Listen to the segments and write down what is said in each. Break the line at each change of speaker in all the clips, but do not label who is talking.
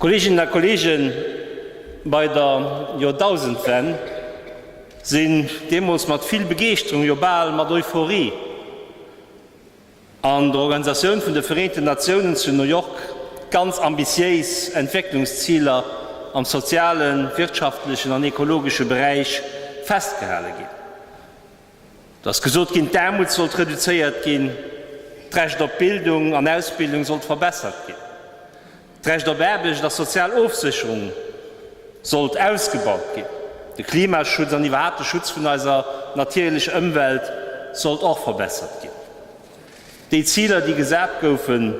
Kolleeginnen a Kolleegen, bei der Joerdausendwenn sinn deemools mat vill Begeeschterung, jo bal mat Euphorie, An der Organisatioun vun de Vereenten Natiounen zu New York ganz ambitiéis Entwécklungsziler am sozialen, wirtschaftlechen an ekologesche Beräich festgehale ginn. Et ass gesot ginn, d'Aarmut sollt reduzéiert ginn, d'Recht op Bildung an Ausbildung sollt verbessert ginn. D'Recht op Aarbecht a sozial Ofsécherung sollt ausgebaut ginn. De Klimaschutz an iwwerhaapt de Schutz vun eiser natierlech Ëmwelt sollt och verbessert ginn. Déi Ziler, déi gesat goufen,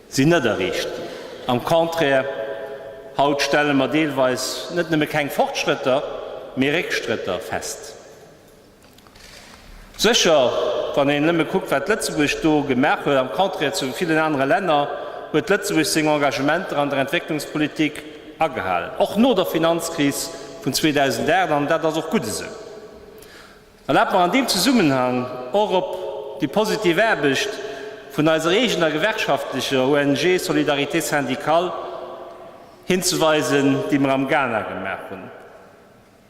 sinn net erreecht ginn. Am Contraire, haut stelle mer deelweis net nëmme keng Fortschrëtter, mee Réckstrëtter fest. Sécher, wann een nëmme kuckt, wat Lëtzebuerg do gemaach huet, am Contraire zu villen anere Länner, huet Lëtzebuerg seng Engagementer an der Entwécklungspolitik agehalen, och no der Finanzkris vun 2008, an dat ass och gutt esou. Erlaabt mer an deem Zesummenhang och op déi positiv Aarbecht vun eiser eegener gewerkschaftlecher ONG Solidarité Syndicale hinzeweisen, déi mer am Ghana gemaach hunn.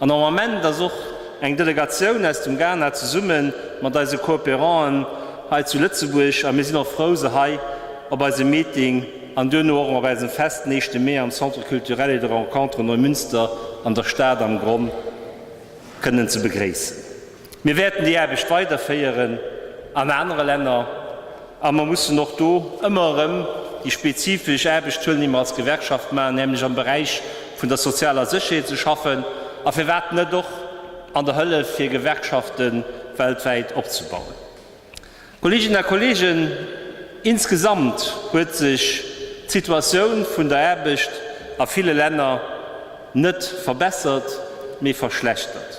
An am Ament ass och eng Delegatioun aus dem Ghana zesumme mat eise Cooperanten hei zu Lëtzebuerg a mir sinn och frou se hei op eise Meeting an duerno och op eisem Fest den éischte Mee am Centre Culturel et de Rencontre Neumünster an der Stad am Gronn kënnen ze begréissen. Mir wäerten déi Aarbecht weiderféieren an anere Länner a mer mussen och do ëmmer erëm déi spezifesch Aarbecht huelen, déi mer als Gewerkschaft maachen, nämlech am Beräich vun der sozialer Sécherheet ze schaffen a firwat net och an der Hëllef fir Gewerkschafte weltwäit opzebauen. Kolleeginnen a Kolleegen, insgesamt huet sech d'Situatioun vun der Aarbecht a ville Länner net verbessert, mee verschlechtert.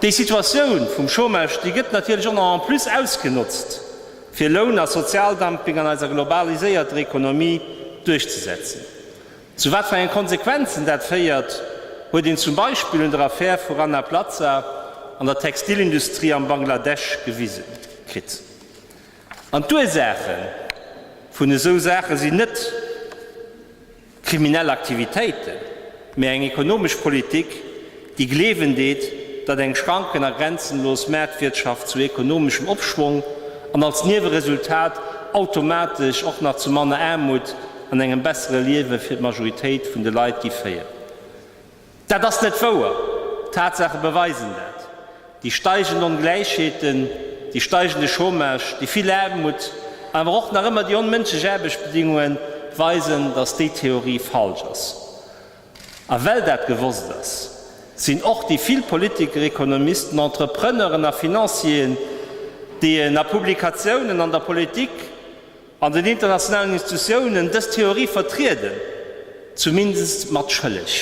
Déi Situatioun vum Chômage, déi gëtt natierlech och nach en plus ausgenotzt, fir Loun a Sozialdumping an eiser globaliséierter Economie duerchzesetzen. Zu wat fir enge Konsequenzen dat féiert, huet een zum Beispill un der Affär vu Rana Plaza an der Textilindustrie am Bangladesch gewise kritt. An d'Ursaache vun esou Saache sinn net. kriminell Aktivitéiten, mee eng ekonomesch Politik, déi gleewen deet, datt eng schranken a grenzenlos Maartwirtschaft zu ekonomeschem Opschwong an als Nieweresultat automatesch och nach zu manner Aarmut an engem bessere Liewe fir d'Majoritéit vun de Leit gi féieren. Dat ass net wouer! D'Tatsaache beweisen dat, déi steigend Ongläichheeten, déi steigende Chômage, déi vill Aarmut, awer och nach ëmmer déi onmënschlech Aarbechtsbedingunge weisen, datt déi Theorie falsch ass. A well dat gewosst ass, sinn och déi vill Politiker, Ekonomisten, Entrepreneuren a Financieren, déi een a Publikatiounen, an der Politik, an den internationalen Institutiounen dës Theorie vertrieden, zumindest mat schëlleg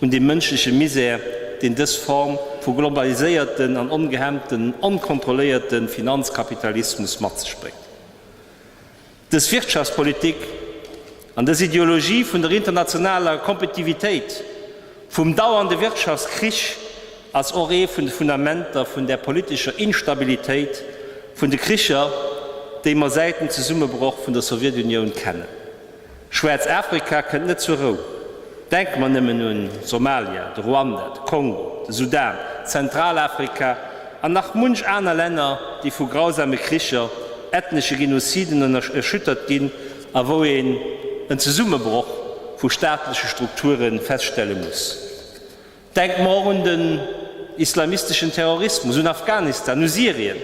un dem mënschleche Misär, deen dës Form vu globaliséierten an ongehemmten, onkontrolléierte Finanzkapitalismus mat sech bréngt. Dës Wirtschaftspolitik. An dës Ideologie vun der internationaler Kompetitivitéit, vum dauernde Wirtschaftskrich ass och ee vun de Fundamenter vun där politescher Instabilitéit, vun de Kricher, déi mer säit dem Zesummebroch vun der Sowjetunioun kennen. Schwärzafrika kënnt net zur Rou. Denke mer nëmmen un Somalia, de Ruanda, de Kongo, de Sudan, Zentralafrika an nach munch aner Länner, déi vu grausame Kricher, ethnesche Genoziden ënner erschüttert ginn, A wou een en Zesummebroch vu staatleche Strukture feststelle muss. Denke mer och un den islamisteschen Terrorismus, un Afghanistan, u Syrien,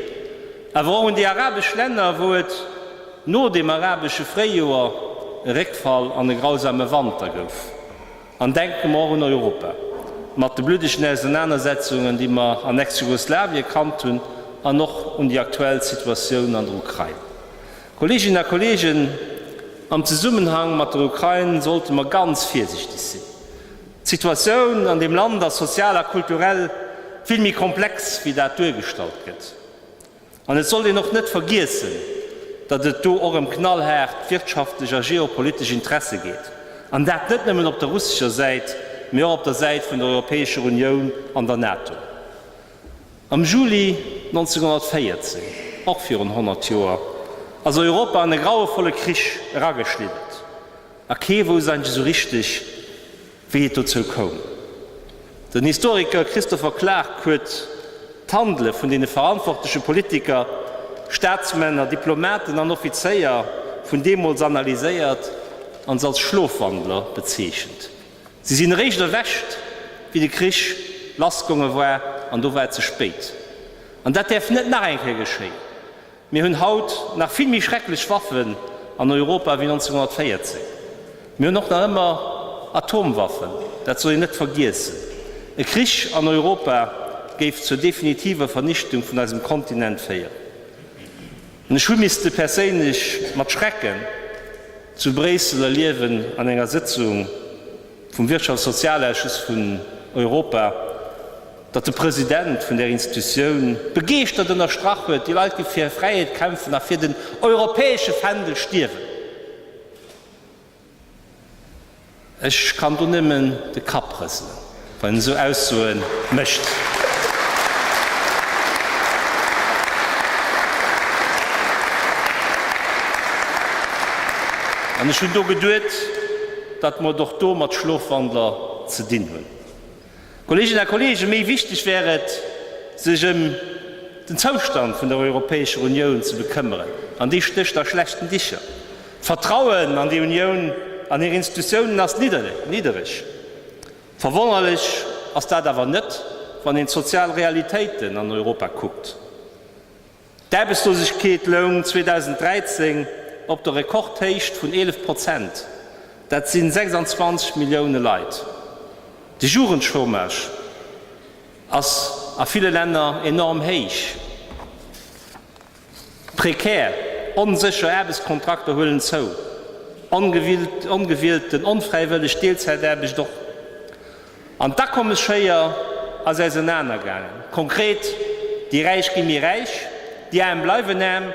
awer och un déi arabesch Länner, wou et no dem arabesche Fréijoer e Réckfall an e grausame Wanter gouf. An denke mer och un Europa, mat de bluddegen Ausernanersetzungen, déi mer an Ex-Jugoslawien kannt hunn, an och un déi aktuell Situatioun an der Ukrain. Kolleeginnen a Kolleegen, am Zesummenhang mat der Ukrain sollte mer ganz virsiichteg sinn. D'Situatioun an deem Land ass sozial a kulturell vill méi komplex, wéi dat duergestallt gëtt. An et sollt een och net vergiessen, datt et do och ëm knallhaart wirtschaftlech a geopolitesch Interesse geet, an dat net nëmmen op der russescher Säit, mee och op der Säit vun der Europäescher Unioun an der NATO. Am Juli 1914, och virun 100 Joer, ass Europa an e grauevolle Krich erageschliddert, a kee wousst eigentlech esou richteg, Wéi et dozou koum? Den Historiker Christopher Clark huet d'Handele vun deene verantwortleche Politiker, Staatsmänner, Diplomaten an Offizéier vun deemools analyséiert an se als Schlofwandler bezeechent. Si sinn eréischt erwächt, wéi de Krich lassgonge war, an do war et ze spéit. An dat däerf net nach eng Kéier geschéien. Mir hunn haut nach vill méi schrecklech Waffen an Europa wéi 1914. Mir hunn och nach ëmmer Atomwaffen, dat soll een net vergiessen. E Krich an Europa géif zur definitiver Vernichtung vun eisem Kontinent féieren. An ech hu misste perséinlech mat Schrecken zu Bréissel erliewen an enger Sëtzung, vum Wirtschafts a Sozialausschuss vun Europa, datt de President vun där Institutioun begeeschtert ënnerstrach huet, Déi Leit gi fir hir Fräiheet kämpfen a fir den europäesche Fändel stierwen. Ech kann do nëmmen de Kapp rëselen, wann een esou Aussoe mécht. An ech hunn do geduet, datt mer et och do mat Schlofwandler ze dinn hunn, Kolleeginnen a Kolleegen, méi wichteg wär et, sech ëm den Zoustand vun der Europäescher Unioun ze bekëmmeren, an dee stécht a schlechten Dicher. D'Vertrauen an déi Unioun an hir Institutiounen ass niddereg. Verwonnerlech ass dat awer net, wann een d'sozial Realitéiten an Europa kuckt. D'Aarbechtslosegkeet loung 2013 op der Rekordhéicht vun 11 Prozent, dat sinn 26 Millioune Leit. De Jugendchômage ass a ville Länner enorm héich. Prekär, onsécher Aarbechtskontrakter huelen zou, ongewielten, onfräiwëlleg Deelzäitaarbecht och. An d'Akommesschéier ass ausenaner gaangen. Konkret, déi Räich gi méi räich, déi Aarm bleiwen aarm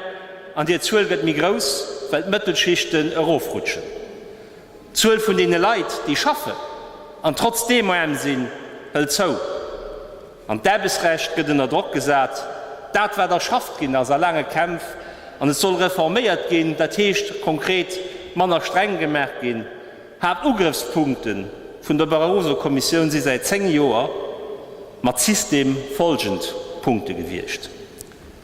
an hir Zuel gëtt méi grouss, well d'Mëttelschichten erofrutschen. D'Zuel vun deene Leit, déi schaffen an trotzdeem aarm sinn, hëlt zou. An d'Aarbechtsrecht gëtt ënner Drock gesat, dat wat erschafft ginn ass a laange Kämpf, an et soll reforméiert ginn, dat heescht konkret manner streng gemaach ginn. Haaptugrëffspunkte vun der Barroso-Kommissioun si säit 10 Joer mat System folgend Punkte gewiescht,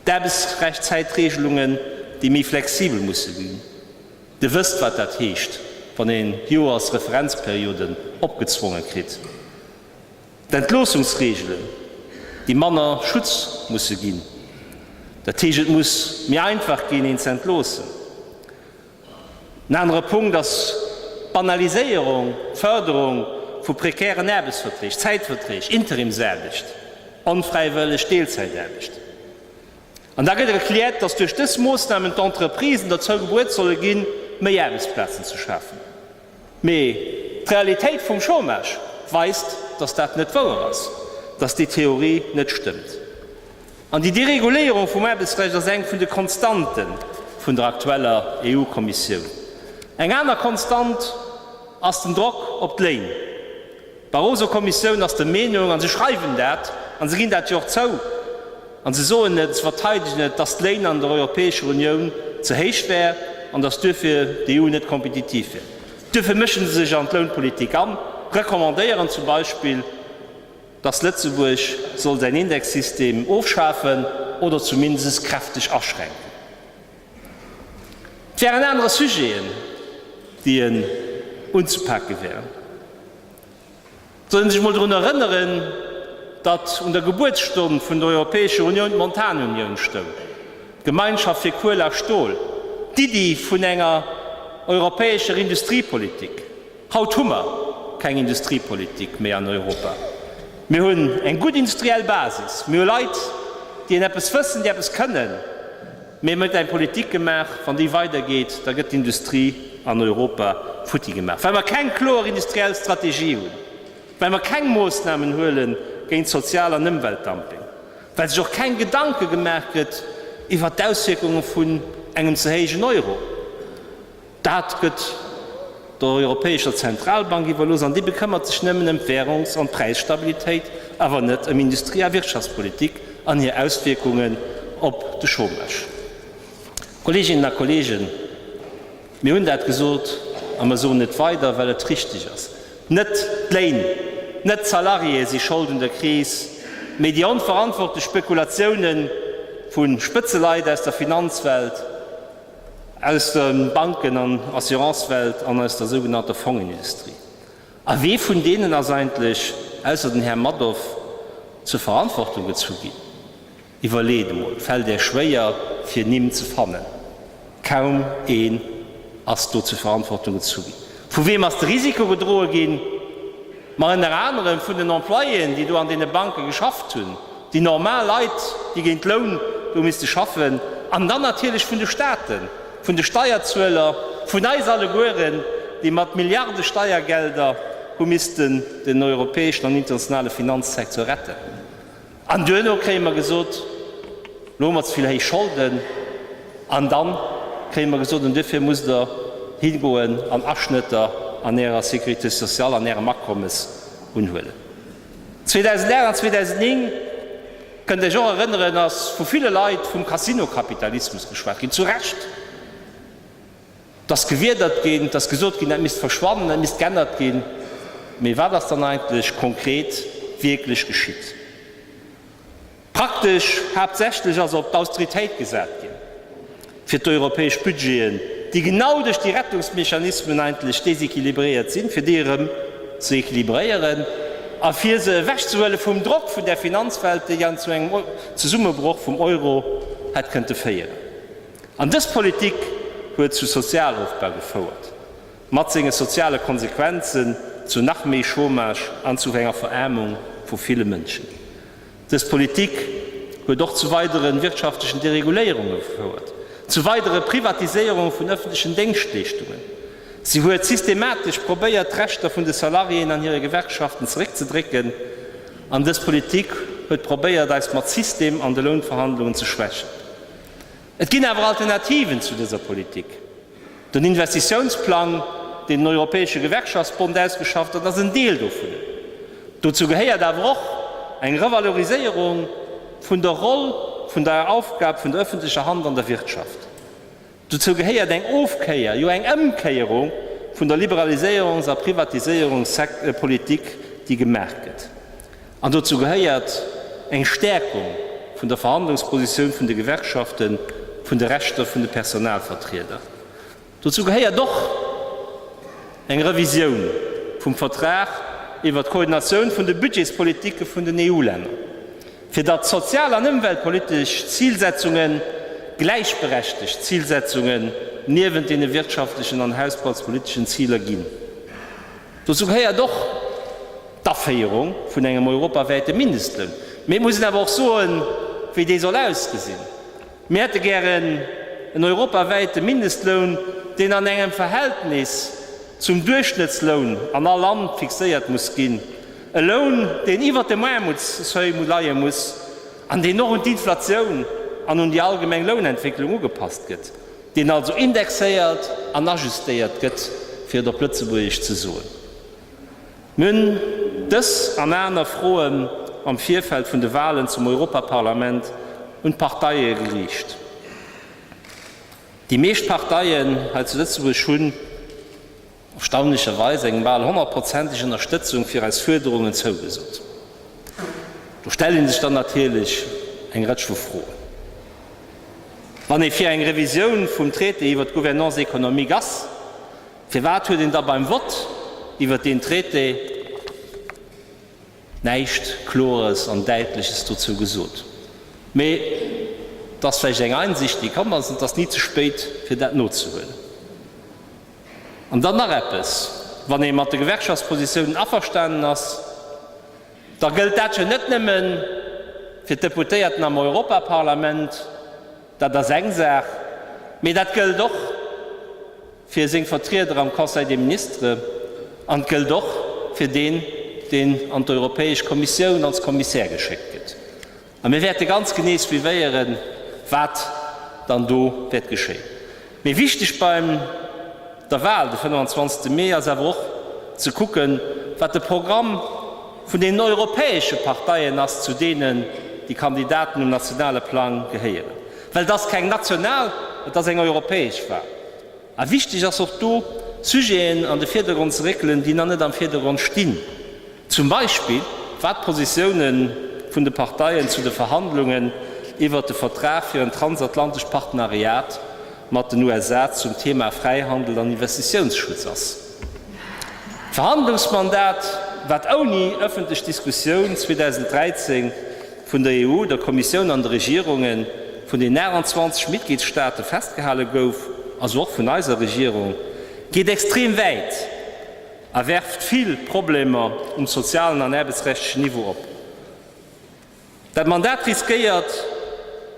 d'Aarbechtsrechtzäitregelungen, déi méi flexibel musse ginn, Dir wësst, wat dat heescht, wann ee Joersreferenzperioden opgezwonge kritt, d'Entloossungsregelen, déi manner Schutz musse ginn, dat heescht, et muss méi einfach ginn, een ze entloossen. En anere Punkt ass d'Banaliséierung, d'Fërderung vu prekären Aarbechtsverträg, Zäitverträg, Interimsaarbecht, onfräiwëlleg Deelzäitaarbecht. An da gëtt erkläert, dass duerch dës Moossnamen d'Entreprisen derzou bebuet solle ginn, méi Aarbechtsplazen ze schafen. Mee d'Realitéit vum Chômage weist, datt dat net wouer ass, datt déi Theorie net stëmmt. An déi Dereguléierung vum Aarbechtsrecht ass eng vun de Konstante vun der aktueller EU-Kommissioun. Eng aner Konstant ass den Drock op d'Léin. D'Barroso-Kommissioun ass der Meenung, a se schreiwen dat, a se ginn dat jo och zou, a se soen et, se verteidegen et, datt d'Léin an der Europäescher Unioun ze héich wär an datt duerfir d'EU net kompetitiv wär. Duerfir mësche se sech an d'Lounpolitik an, recommandéieren zum Beispill, datt Lëtzebuerg soll säin Indexsystem ofschafen oder zumindest kräfteg aschränken. Et wären anerer Sujeten, déi en unzepake wären. Soll een sech emol drun erënneren, datt un der Gebuertsstonn vun der Europäescher Unioun d'Montanunioun stoung, d'Gemeinschaft fir Kuel a Stol, d'Iddi vun enger europäescher Industriepolitik. Haut hu mer keng Industriepolitik méi an Europa. Mir hunn eng gutt industriell Basis, mir hu Leit, déi een eppes wëssen, déi eppes kënnen. Mee mir huet eng Politik gemaach, wann déi weider geet, da gëtt d'Industrie an Europa futti gemaach, well mer keng kloer industriell Strategie hunn, well mer keng Moossnamen huele géint Sozial an Ëmweltdumping, well sech och keng Gedanke gemaach gëtt iwwert d'Auswierkunge vun engem ze héijen Euro. Dat gëtt der Europäescher Zentralbank iwwerlooss an déi bekëmmert sech nëmmen ëm d'Währungs an d'Präisstabilitéit, awer net ëm Industrie a Wirtschaftspolitik an hir Auswierkungen op de Chômage. Kolleeginnen a Kolleegen, mir hunn dat gesot a mer soen et weider, well et richtig ass, Net d'Léin, net d'Salariéë si Schold un der Kris, mee déi onverantwortlech Spekulatiounen vu Spëtzeleit aus der Finanzwelt. Aus der Banken an Assurancewelt an aus der sougenannter Fongenindustrie. A wee vun deenen ass eigentlech, ausser den Här Madoff, zur Verantwortung gezu ginn? Iwwerleet emol, et fält Är schwéier, fir Nimm ze fannen. Kaum een ass do zur Verantwortung gezu ginn. Vu weem ass de Risiko gedroe ginn? Mä ënner anerem vun den Employéen, déi do an deene Banke geschafft hunn, déi normal Leit, déi géint Loun do misste schaffen, an dann natierlech vun de Staaten, vun de Steierzueler, vun eis allegueren, déi mat Milliarde Steiergelder hu missten den europäeschen an internationale Finanzsektor retten. An duerno kréie mer gesot, Lo hu mer ze vill héich Scholden. An da kréie mer gesot, An duerfir musst Der higoen an Aschnëtter an Ärer Sécurité sociale, an Ärem Akommes unhuelen. 2008 an 2009, kënnt Iech och erënneren, ass vu ville Leit vum Casino-Kapitalismus geschwat ginn. Zu Recht. 't ass gewiedert ginn, 't ass gesot ginn, dat misst verschwannen, dat misst geännert ginn. Mee wat ass dann eigentlech konkret wierklech geschitt? Praktesch haaptsächlech ass op d'Austeritéit gesat ginn, fir d'europäesch Budgeten, déi genau duerch déi Rettungsmechanismen eigentlech déséquilibréiert sinn, fir déi erëm ze équilibréieren a fir se ewechzehuele vum Drock vun där Finanzwelt, déi dann zu engem Zesummebroch vum Euro hätt kënnte féieren. An dës Politik huet zu Sozialofbau gefouert, mat senge soziale Konsequenzen zu nach méi Chômage an zu enger Veraarmung vu ville Mënschen. Dës Politik huet och zu weidere wirtschaftlechen Dereguléierunge gefouert, zu weidere Privatiséierunge vun ëffentlechen Déngschtleeschtungen. Si huet systematesch probéiert, d'Rechter vun de Salariéen an hire Gewerkschaften zeréckzedrécken. An dës Politik huet probéiert, eis mat System an de Lounverhandlungen ze schwächen. Et ginn awer Alternativen zu dëser Politik. Den Investitiounsplang, deen den Europäesche Gewerkschaftsbond ausgeschafft huet, ass en Deel dovun. Dozou gehéiert awer och eng Revaloriséierung vun der Roll vun der Aufgab vun der öffentlecher Hand an der Wirtschaft. Dozou gehéiert eng Ofkéier, jo eng Ëmkéierung vun der Liberaliséierungs a Privatiséierungspolitik, déi gemaach gëtt. An dozou gehéiert eng Stäerkung vun der Verhandlungspositioun vun de Gewerkschaften, vun de Rechter vun de Personalvertrieder. Dozou gehéiert och eng Revisioun vum Vertrag iwwert d'Koordinatioun vun de Budgetspolitike vun den EU-Länner, fir datt sozial an ëmweltpolitesch Zilsetzunge gläichberechtegt Zilsetzungen niewent deene wirtschaftlechen an hausbaltspoliteschen Ziler ginn. Dozou gehéiert och d'Aféierung vun engem europawäite Mindestloun. Mir mussen awer och soen, wéi dee soll ausgesinn. Mir hätte gären en europawäite Mindestloun, deen an engem Verhältnis zum Duerchschnëttsloun an all Land fixéiert muss ginn, e Loun, deen iwwert dem Aarmutsseuil leie muss an deen och un d'Inflatioun an un déi allgemeng Lounentwécklung ugepasst gëtt. deen also indexéiert an ajustéiert gëtt, fir et op Lëtzebuergesch ze soen. Mir hunn dës an aner Froen am Virfeld vun de Wahlen zum Europaparlament un d'Parteie geriicht. Déi meescht Parteien hei zu Lëtzebuerg hunn. erstaunlecherweis eng bal honnertprozentig Ënnerstëtzung fir eis Fuerderungen zougesot. Do stelle sech dann natierlech eng Rëtsch vu Froen. Wann ee fir eng Revisioun vum Traité iwwert d'Gouvernance économique ass, firwat huet een da beim Vott iwwert deen Traité näischt Klores an Däitleches dozou gesot? Mee et ass vläicht eng Einsicht, déi komm ass, an et ass ni ze spéit, fir dat nozehuelen. An dann nach eppes, Wann ee mat de Gewerkschaftspositiounen averstanen ass, da gëllt dat jo net nëmme fir d'Deputéierten am Europaparlament, dat ass eng Saach, mee dat gëllt och fir seng Vertrieder am Conseil des Ministres an et gëllt och fir deen, deen an d'Europäesch Kommissioun als Kommissär geschéckt gëtt. A mir wäerte ganz genee suivéieren, wat dann do wäert geschéien. Mee wichteg bei der Wal de 25 Mee ass awer och ze kucken, wat de Programm vun deenen europäesche Parteien ass, zu deenen déi Kandidaten um nationale Plang gehéieren. Well et ass keng national, et ass eng europäesch Wal. A wichteg ass och do, Sujeten an de Virdergrond ze réckelen, déi nach net am Virdergrond stinn. Zum Beispill, wat d'Positioune vun de Parteien zu de Verhandlungen iwwert de Vertrag fir en transatlantescht Partneriat mat den USA zum Thema Fräihandel an Investitiounsschutz ass. D'Verhandlungsmandat, wat ouni ëffentlech Diskussioun 2013 vun der EU, der Kommissioun an de Regierunge vun den 28 Mitgliedsstaate festgehale gouf, also och vun eiser Regierung, geet extrem wäit a werft vill Problemer um sozialen an aarbechtsrechtlechen Niveau op. Dat Mandat riskéiert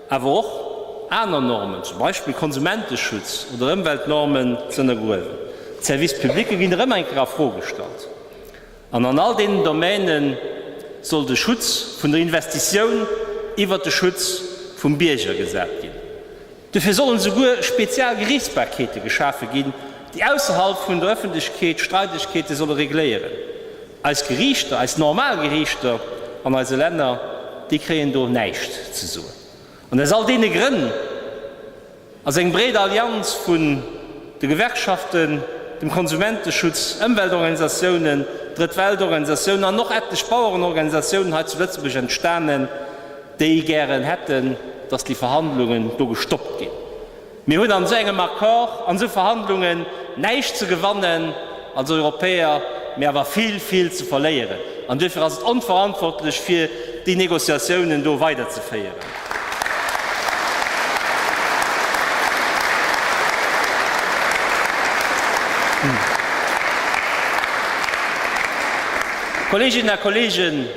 awer och, aner Normen, zum Beispill Konsumenteschutz oder Ëmweltnormen, ze ënnergruewen. D'Service publicë ginn erëm eng Kéier a Fro gestallt. An an all deenen Domäne soll de Schutz vun der Investitioun iwwert de Schutz vum Bierger gesat ginn. Dofir sollen esouguer spezial Geriichtsbarkeete geschafe ginn, déi ausserhalb vun der Ëffentlechkeet Streidegkeete solle regléieren. Eis Geriichter, eis normal Geriichter an eise Länner, déi kréien do näischt ze soen. An aus all deene Grënn ass eng breet Allianz vun de Gewerkschaften, dem Konsumenteschutz, Ëmweltorganisatiounen, Drëtt-Welt-Organisatiounen an och etlech Bauerenorganisatiounen hei zu Lëtzebuerg entstanen, déi gären hätten, dass déi Verhandlungen do gestoppt ginn. Mir hunn an esou engem Accord, an esou Verhandlungen näischt ze gewannen als Europäer, mee awer vill, vill ze verléieren. An duerfir ass et onverantwortlech, fir déi Négociatiounen do weiderzeféieren. Kolleeginnen a Kolleegen,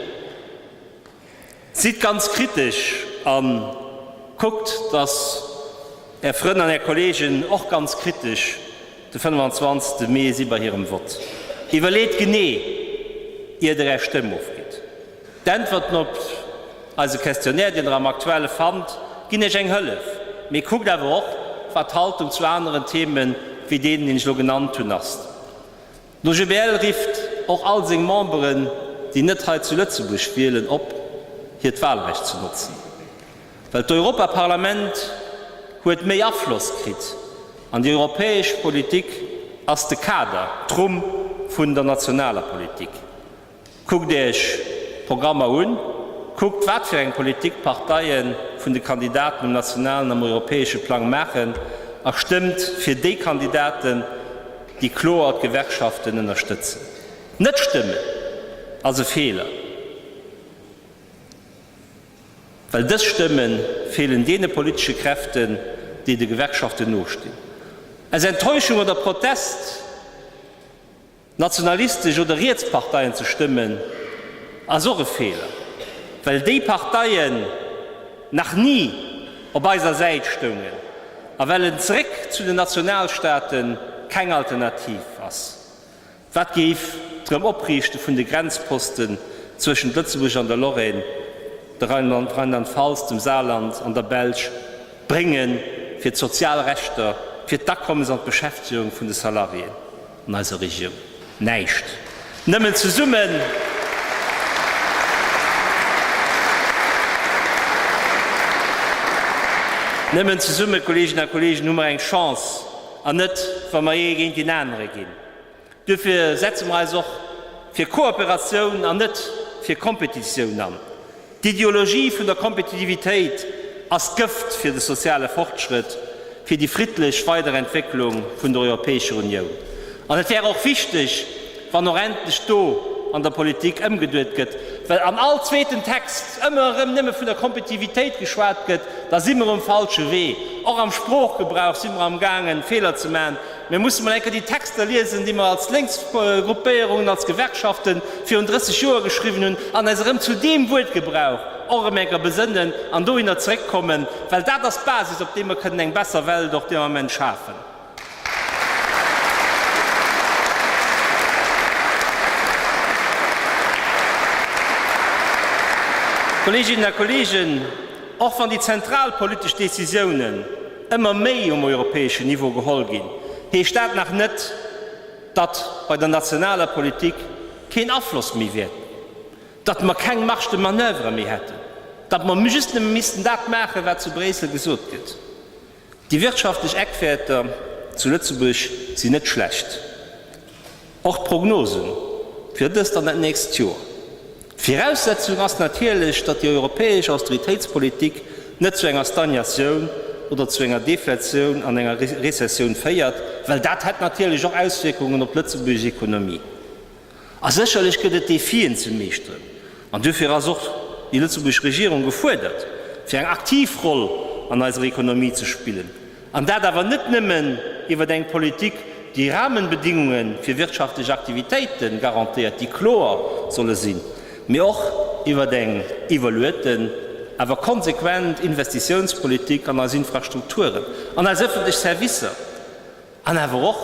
Sidd ganz kritesch a kuckt, datt Är Frënn an Är Kolleegen och ganz kritesch de 25 Mee si bei hirem Vott. Iwwerleet genee, ier Der Är Stëmm ofgitt. D'Äntwerten op eise Questionnaire, deen Der am Aktuelle fannt, ginn Iech eng Hëllef. Mee kuckt awer och, wat d'Haltung zu aneren Themen, wéi deenen, deen ech elo genannt hunn, ass. D'OGBL rifft och all seng Memberen, déi net hei zu Lëtzebuerg wielen, op, hiert Walrecht ze notzen, well d'Europaparlament huet méi Afloss kritt an déi europäesch Politik ass de Kader, d'Rumm vun der nationaler Politik. Kuckt Iech d'Programmer un, kuckt wat fir eng Politik d'Parteie vun de Kandidaten um nationalen, am europäesche Plang maachen a stëmmt fir déi Kandidaten, déi kloer d'Gewerkschaften ënnerstëtzen. Net stëmmen ass e Feeler, well dës Stëmme feelen deene politesche Kräften, déi de Gewerkschaften nostinn. Aus Enttäuschung oder Protest? Nationalistesch oder riets Parteien ze stëmmen ass och e Feeler, well déi Parteien nach ni op eiser Säit stoungen a well en Zeréck zu den Nationalstaate keng Alternativ ass. Wat géif d'Erëm-Opriichte vun de Grenzposten zwëschent Lëtzebuerg an der Lorraine, der Rheinland-Pfalz, dem Saarland an der Belsch bréngen fir d'sozial Rechter, fir d'Akommes an d'Beschäftegung vun de Salariéen? An eiser Regioun näischt. Nëmmen zesummen Nëmmen zesummen, Kolleginnen a Kollegen, hu mer eng Chance, an net wa mer ee géint deen anere ginn. Duerfir setze mer eis och fir Kooperatioun an net fir Kompetitioun an. D'Ideologie vun der Kompetitivitéit ass d'Gëft fir de soziale Fortschrëtt, fir déi friddlech Weiderentwécklung vun der Europäescher Unioun. An et wär och wichteg, wann och endlech do an der Politik ëmgeduet gëtt, well an all zweeten Text ëmmer erëm nëmme vun der Kompetitivitéit geschwat gëtt, da si mer um falsche Wee. Och am Sproochgebrauch si mer amgaangen, Feeler ze maachen. Mir musse mol eng Kéier déi Texter liesen, déi mer als Lénksgruppéierungen, als Gewerkschaften virun 30 Joer geschriwwen hunn an eis erëm zu deem Wuertgebrauch och erëm eng Kéier besënnen an dohinner zeréckkommen, well dat ass d'Basis, op deem mer kënnen eng besser Welt och deen Ament schafen. Kolleeginnen a Kolleegen, och wann déi zentral politesch Décisiounen, ëmmer méi um europäeschen Niveau geholl ginn, heescht dat nach net, datt bei der nationaler Politik keen Afloss méi wier, datt mer keng Marge de manoeuvre méi hätten, datt mer just nëmme missten dat maachen, wat zu Bréissel gesot gëtt. Déi wirtschaftlech Eckwäerter zu Lëtzebuerg sinn net schlecht. Och d'Prognose fir dëst an dat nächst Joer. D'Viraussetzung ass natierlech, datt déi europäesch Austeritéitspolitik net zu enger Stagnatioun oder zu enger Deflatioun an enger Rezessioun féiert, well dat hätt natierlech och Auswierkungen op d'lëtzebuergesch Ekonomie. A sécherlech gëtt et Defien ze meeschteren, an duerfir ass och déi lëtzebuergesch Regierung gefuerdert, fir eng aktiv Roll an eiser Ekonomie ze spillen. An dat awer net nëmmen iwwer eng Politik, déi Rahmenbedingunge fir wirtschaftlech Aktivitéite garantéiert, déi kloer solle sinn, mee och iwwer eng evaluéierten, awer konsequent Investitiounspolitik an eis Infrastrukturen, an eis öffentlech Servicer an awer och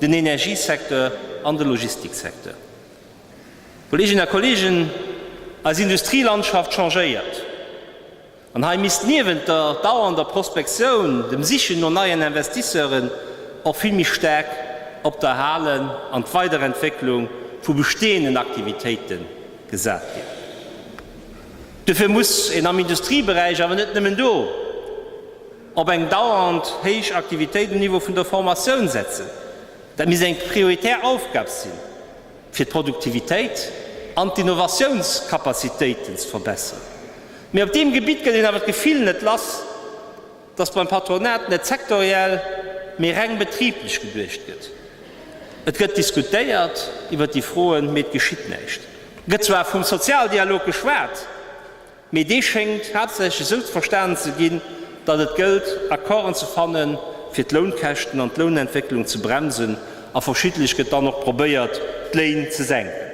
den Energiesecteur an de Logistiksecteur. Kolleeginnen a Kolleegen, eis Industrielandschaft changéiert, an hei misst niewent der dauernder Prospektioun, dem Sichen no neien Investisseuren, och vill méi staark op d'Erhalen an d'Weiderentwécklung vu besteeënden Aktivitéite gesat ginn. Dofir muss een am Industrieberäich, awer net nëmmen do, Op eng dauernd héich Aktivitéit um Niveau vun der Formatioun setzen, dat misst eng prioritär Aufgab sinn, fir d'Produktivitéit an d'Innovatiounskapazitéiten ze verbessern. Mee op deem Gebitt gëtt een awer d'Gefill net lass, dass beim Patronat net sektoriell, mee reng betriiblech geduecht gëtt. Et gëtt diskutéiert iwwert déi Froen, mee et geschitt näischt. Et gëtt zwar vum Sozialdialog geschwat, Mee dee schéngt haaptsächlech esou ze verstanen ze ginn, datt et gëllt, Accorden ze fannen, fir d'Lounkäschten an d'Lounentwécklung ze bremsen, a verschiddelech gëtt dann och probéiert, d'Léin ze senken.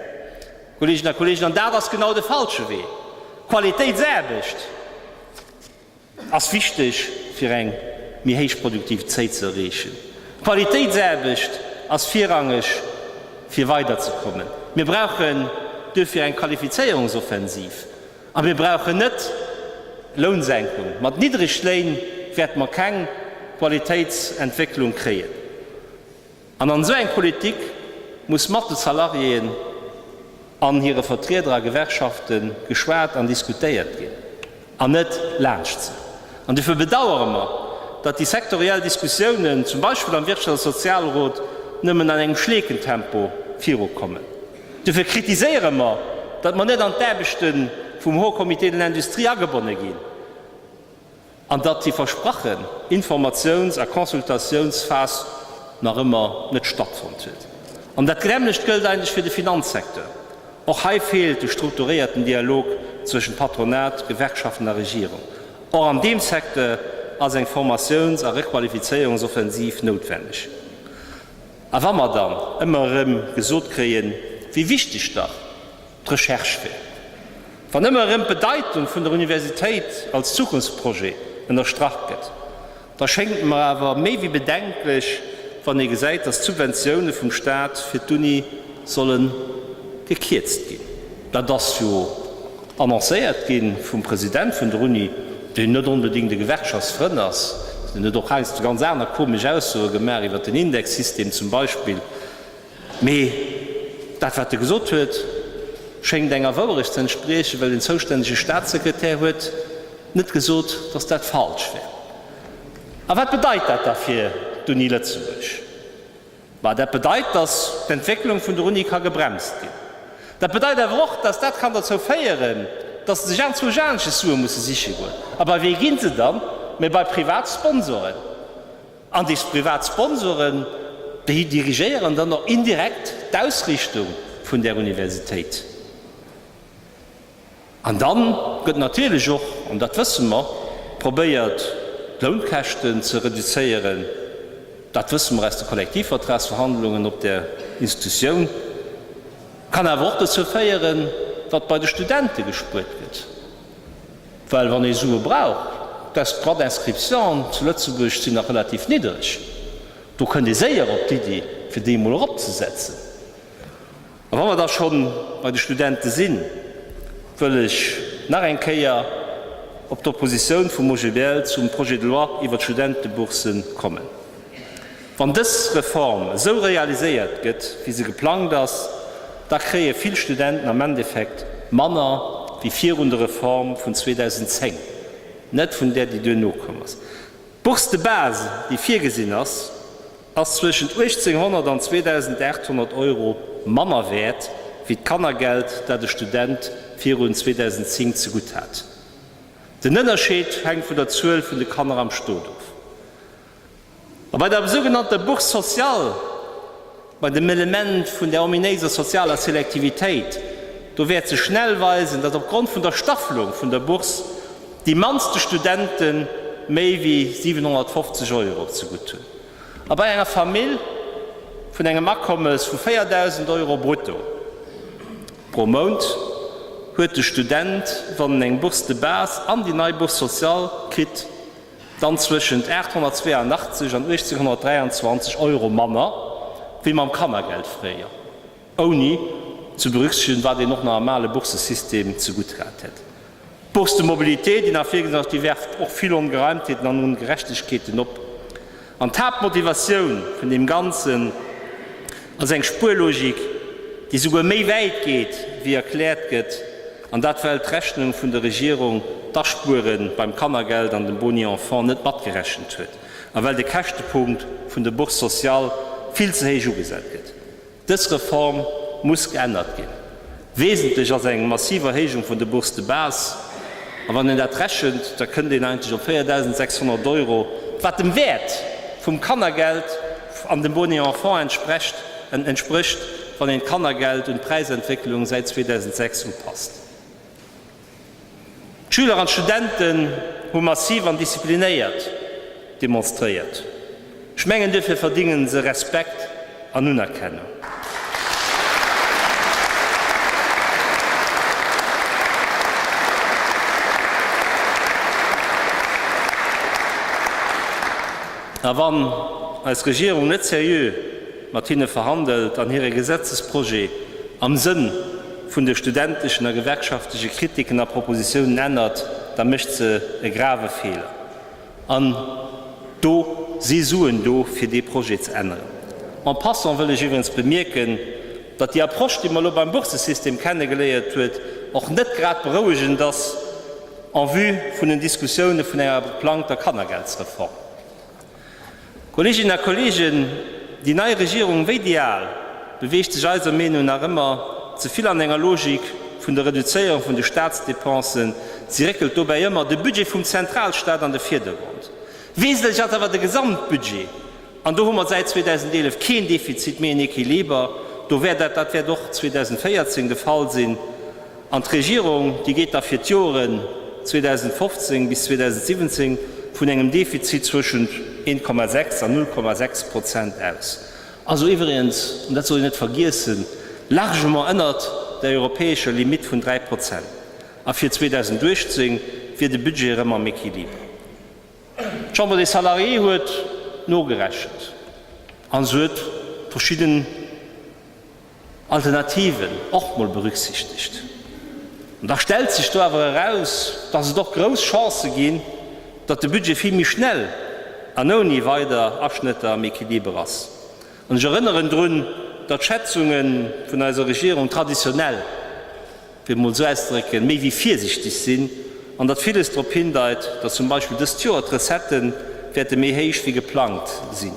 Kolleeginnen a Kolleegen, an dat ass genau de falsche Wee! Qualitéitsaarbecht! ass wichteg fir eng méi héich Produktivitéit ze erreechen. D'Qualitéitsaarbecht ass virrangeg fir weiderzekommen. Mir brauchen duerfir eng Qualifizéierungsoffensiv a mir brauchen net Lounsenkung. Mat niddreg Léin wäerte mer keng Qualitéitsentwécklung kréien. An an esou eng Politik muss mat de Salariéen an hire Vertrieder a Gewerkschafte geschwat an diskutéiert ginn, an net laanscht se. An dofir bedauere mer, datt déi sektoriell Diskussiounen, zum Beispill am Wirtschafts a Sozialrot, nëmmen an engem Schleekentempo virukommen. Dofir kritiséiere mer, datt mer net an d'Aarbechte vum Haut Comité de l'Industrie agebonne ginn. An datt déi versprachen Informatiouns a Consultatiounsphas nach ëmmer net stattfonnt huet. An dat nämlecht gëllt eigentlech fir de Finanzsecteur. Och hei feelt de strukturéierten Dialog zwëschen Patronat, Gewerkschaften a Regierung. Och an deem Secteur ass eng Formatiouns a Requalifizéierungsoffensiv noutwenneg. A wa mer dann ëmmer erëm gesot kréien, wéi wichteg dach d'Recherche wäert. Wann ëmmer erëm d'Bedeitung vun der Universitéit als Zukunftsprojet ënnerstrach gëtt, da schéngt et mer awer méi wéi bedenklech, wann ee gesäit, datt d'Subventioune vum Staat fir d'Uni solle gekierzt ginn. Dat ass jo annoncéiert gi vum President vun der Uni, deen net onbedéngt e Gewerkschaftsfrënn ass. Deen huet och heiansdo ganz aner komesch Aussoe gemaach iwwer den Indexsystem zum Beispill. Mee dat wat e gesot huet, schéngt enger Wouerecht ze entspriechen, well den zoustännege Staatssekretär huet net gesot, datt dat falsch wär. A wat bedeit dat da fir d'Uni Lëtzebuerg? Ma dat bedeit, datt d'Entwécklung vun der Uni ka gebremst ginn. Dat bedeit awer och, datt dat kann derzou féieren, datt sech anzwousch anesches Sue musse siche goen. A bei wee gi se dann, mä bei Privatsponsoren? An déi privat Sponsoren, déi dirigéieren dann och indirekt d'Ausrichtung vun där Universitéit. An da gëtt natierlech och, an dat wësse mer, probéiert d'Lounkäschten ze reduzéieren. Dat wësse mer aus de Kollektivvertragsverhandlungen op där Institutioun. Kann awer och dozou féieren, datt bei de Studente gespuert gëtt. Well wann ee Sue brauch, dass d'Droits d'inscription zu Lëtzebuerg sinn nach relativ niddreg, do kënnt ee séier op d'Iddi fir déi emol eropzesetzen. A wa mer da scho bei de Studente sinn, wëll ech nach eng Kéier op d'Oppositioun vum OGBL zum Projet de loi iwwert d'Studentebourse kommen. Wann dës Reform esou realiséiert gëtt, wéi se geplangt ass, da kréie vill Studenten am Endeffekt manner wéi virun der Reform vun 2010, net vun där, déi duerno komm ass. D'Bourse de base, déi virgesinn ass, ass zwëschent 1800 an 2800 Euro manner wäert wéi d'Kannergeld, dat e Student virun 2010 zegutt hat. Den Ënnerscheed hänkt vun der Zuel vun de Kanner am Stot of. A bei der sougenannter Bourse sociale, bei dem Element vun där ominéiser sozialer Selektivitéit, do wäert sech schnell weisen, datt opgrond vun der Staffelung vun der Bourse déi mannste Studente méi wéi 750 Euro zegutt hunn. A bei enger Famill vun engem Akommes vu 4.000 Euro brutto pro Mount huet de Student, wann en eng Bourse de base an déi nei Bourse sociale kritt, dann zwëschent 882 an 1823 Euro manner wéi mam Kannergeld fréier, ouni ze berücksichtegen, wat een och nach am ale Boursesystem zegutt hat hätt. D'Bourse de mobilité, déi nach virgesinn ass, déi werft och vill Ongereimtheeten an Ongerechtegkeeten op. An d'Haaptmotivatioun vun deem Ganzen ass eng Spuerlogik, déi esouguer méi wäit geet, wéi erkläert gëtt, an dat well d'Rechnung vun der Regierung d'Aspuere beim Kannergeld an dem Boni enfant net matgerechent huet a well de Käschtepunkt vun der Bourse sociale vill ze héich ugesat gëtt. Dës Reform muss geännert ginn. Wesentlech ass eng massiv Erhéijung vun de Bourses de base. A wann een dat rechent, da kënnt een eigentlech op 4.600 Euro, wat dem Wäert vum Kannergeld an dem Boni enfant entsprecht, wann een d'Kannergeld un d'Präisentwécklung säit 2006 upasst. D'Schüler an d'Studenten hu massiv an disziplinéiert demonstréiert. Ech mengen duerfir verdingen se Respekt an Unerkennung. A wann eis Regierung net seriö mat hinne verhandelt an hire Gesetzesprojet am Sënn vun de studenteschen a gewerkschaftleche Kritiken a Propositiounen ännert, da mécht se e grave Feeler. An do si Suen do, fir dee Projet ze änneren. En passant wëll ech iwwerens bemierken, datt déi Approche, déi mer elo beim Boursesystem kennegeléiert huet, och net grad berouegend ass en vue vun den Diskussioune vun enger geplangter Kannergeldsreform. Kolleeginnen a Kolleegen, déi nei Regierung, wéi déi al, beweegt sech eiser Meenung nach ëmmer ze vill an enger Logik vun der Reduzéierung vun de Staatsdepensen. Si réckelt dobäi ëmmer de Budget vum Zentralstaat an de Virdergrond. Wesentlech ass awer de Gesamtbudget, an do hu mer säit 2011 keen Defizit méi, en Equiliber, do wär dat, dat wäert och 2014 de Fall sinn, An d'Regierung, déi geet da fir d'Joeren 2015 bis 2017 vun engem Defizit zwëschent 1,6 an 0,6 Prozent aus. Also iwwregens, an dat soll een net vergiessen, largement ënnert der europäescher Limitt vun 3 Prozent. A fir 2018 wier de Budget erëm am Equiliber. D'Chambre des Salariés huet nogerechent an se huet verschidden. Alternativen och mol berücksichtegt. An da stellt sech do awer eraus, dass et och grouss Chancë ginn, datt de Budget vill méi schnell an ouni weider Aschnëtter am Equiliber ass. An ech erënneren drun, datt d'Schätzunge vun eiser Regierung traditionell, fir et mol esou auszedrécken, méi wéi virsichteg sinn an datt villes drop hindeit, datt zum Beispill dëst Joer d'Recettë wäerte méi héich wéi geplangt sinn.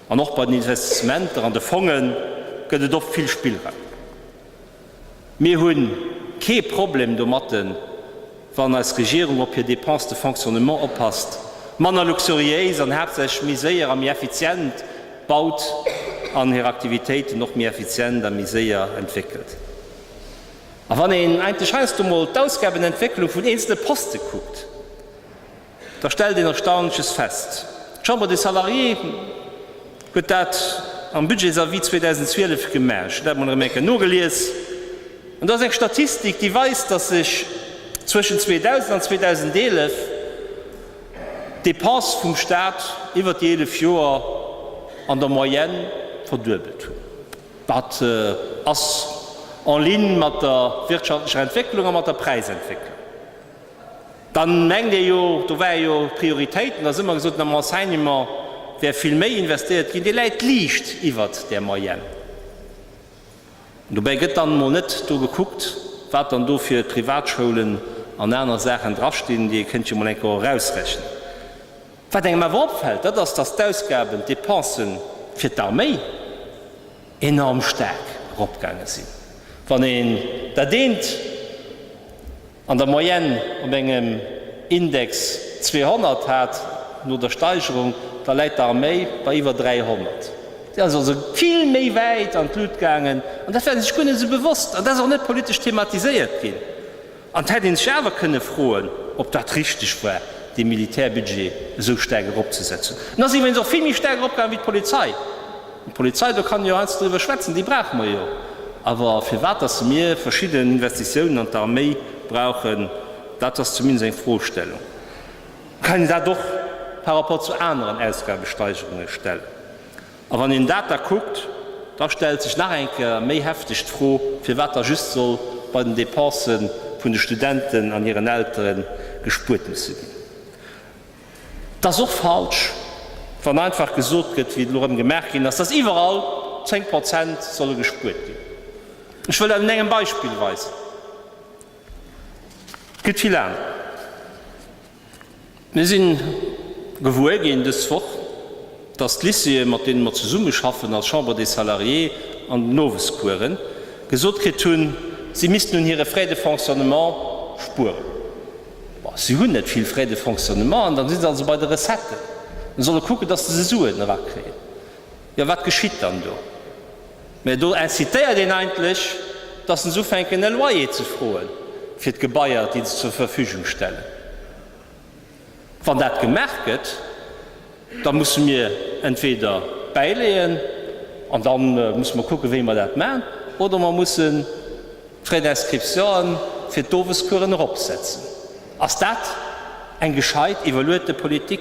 An och bei den Investissementer an de Fongen gëtt et oft vill Spillraum. Mir hu kee Problem domatten, wann eis Regierung op hir Dépenses de fonctionnement oppasst, manner luxuriéis an haaptsächlech méi séier a méi effizient baut an hir Aktivitéiten och méi effizient a méi séier entwéckelt. A wann een eigentlech heiansdo mol d'Ausgabenentwécklung vun eenzelne Poste kuckt, da stellt een Erstaunleches fest, D'Chambre des Salariés huet dat am Budgetsavis 2012 gemaach, ech hunn dat mol erëm eng Kéier nogelies, an do ass eng Statistik, déi weist, datt sech zwëschen 2000 an 2011 d'Depensë vum Stat iwwer déi 11 Joer an der Moyenne verduebelt hunn. Dat ass en ligne mat der wirtschaftlecher Entwécklung a mat der Präisentwécklung. Da mengt ee jo, do ware jo Prioritéiten, da hu mer gesot, am Enseignement wär vill méi investéiert ginn, dee läit liicht iwwert där Moyenne. An dobäi gëtt dann emol net do gekuckt, wat dann do fir Privatschoulen an aner Saachen drastinn. Dir kënnt jo emol eng Kéier erausrechnen. Wat engem awer opfält, dat ass, dass d'Ausgaben, d'Depensë fir d'Arméi enorm staark eropgaange sinn, wann een dat eent, An der Moyenne op engem Index 200 hat, no der Steigerung, da läit d'Arméi bei iwwer 300. Si ass also vill méi wäit an d'Lut gaangen, an dat war si sech guer net esou bewosst, an dat ass och net politesch thematiséiert ginn. An et hätt ee sech awer kënne froen, ob dat richteg war, dee Militärbudget esou staark eropzesetzen. En ass iwwregens och vill méi staark eropgaangen wéi d'Polizei. D'Polizei, do kann een jo heiansdo driwwer schwätzen, déi brauche mer jo. Awer firwat datt mir verschidden Investitiounen an d'Arméi brauchen, dat ass zumindest eng Frostellung. Dann kann een dat och par rapport zu aneren Ausgabesteigerunge stellen. A wann een dat da kuckt, da stellt sech nach eng Kéier méi hefteg d'Fro, firwat da just soll bei den Dépense vun de Studenten an hiren Eltere gespuert musse ginn. Et ass och falsch, wann einfach gesot gëtt, wéi et elo erëm gemaach ginn ass, dass iwwerall 10 Prozent solle gespuert ginn. Ech wëll dat un engem Beispill weisen, et gëtt vill aner. Mir si gewuer ginn dës Woch, dass d'Lycéeë, mat deene mer zesummeschaffen als Chambre des Salariés an den Owescoursen, gesot kritt hunn, si missten un hire Frais de fonctionnement spueren. Si hunn net vill Frais de fonctionnement an dann si se also bei de Recetten a solle kucken, datt se se Suen erakréien. Jo, wat geschitt dann do? Mä do incitéiert een eigentlech, datt se ufänken e Loyer ze froe fir d'Gebaier, déi se zur Verfügung stellen. Wann dat gemaach gëtt, Da musse mir entweder bäileeën, an da musse mer kucken, wéi mer dat maachen, oder mer mussen d'Frais d'inscription fir d'Owescoursen eropsetzen. Ass dat eng gescheit, evoluerte Politik?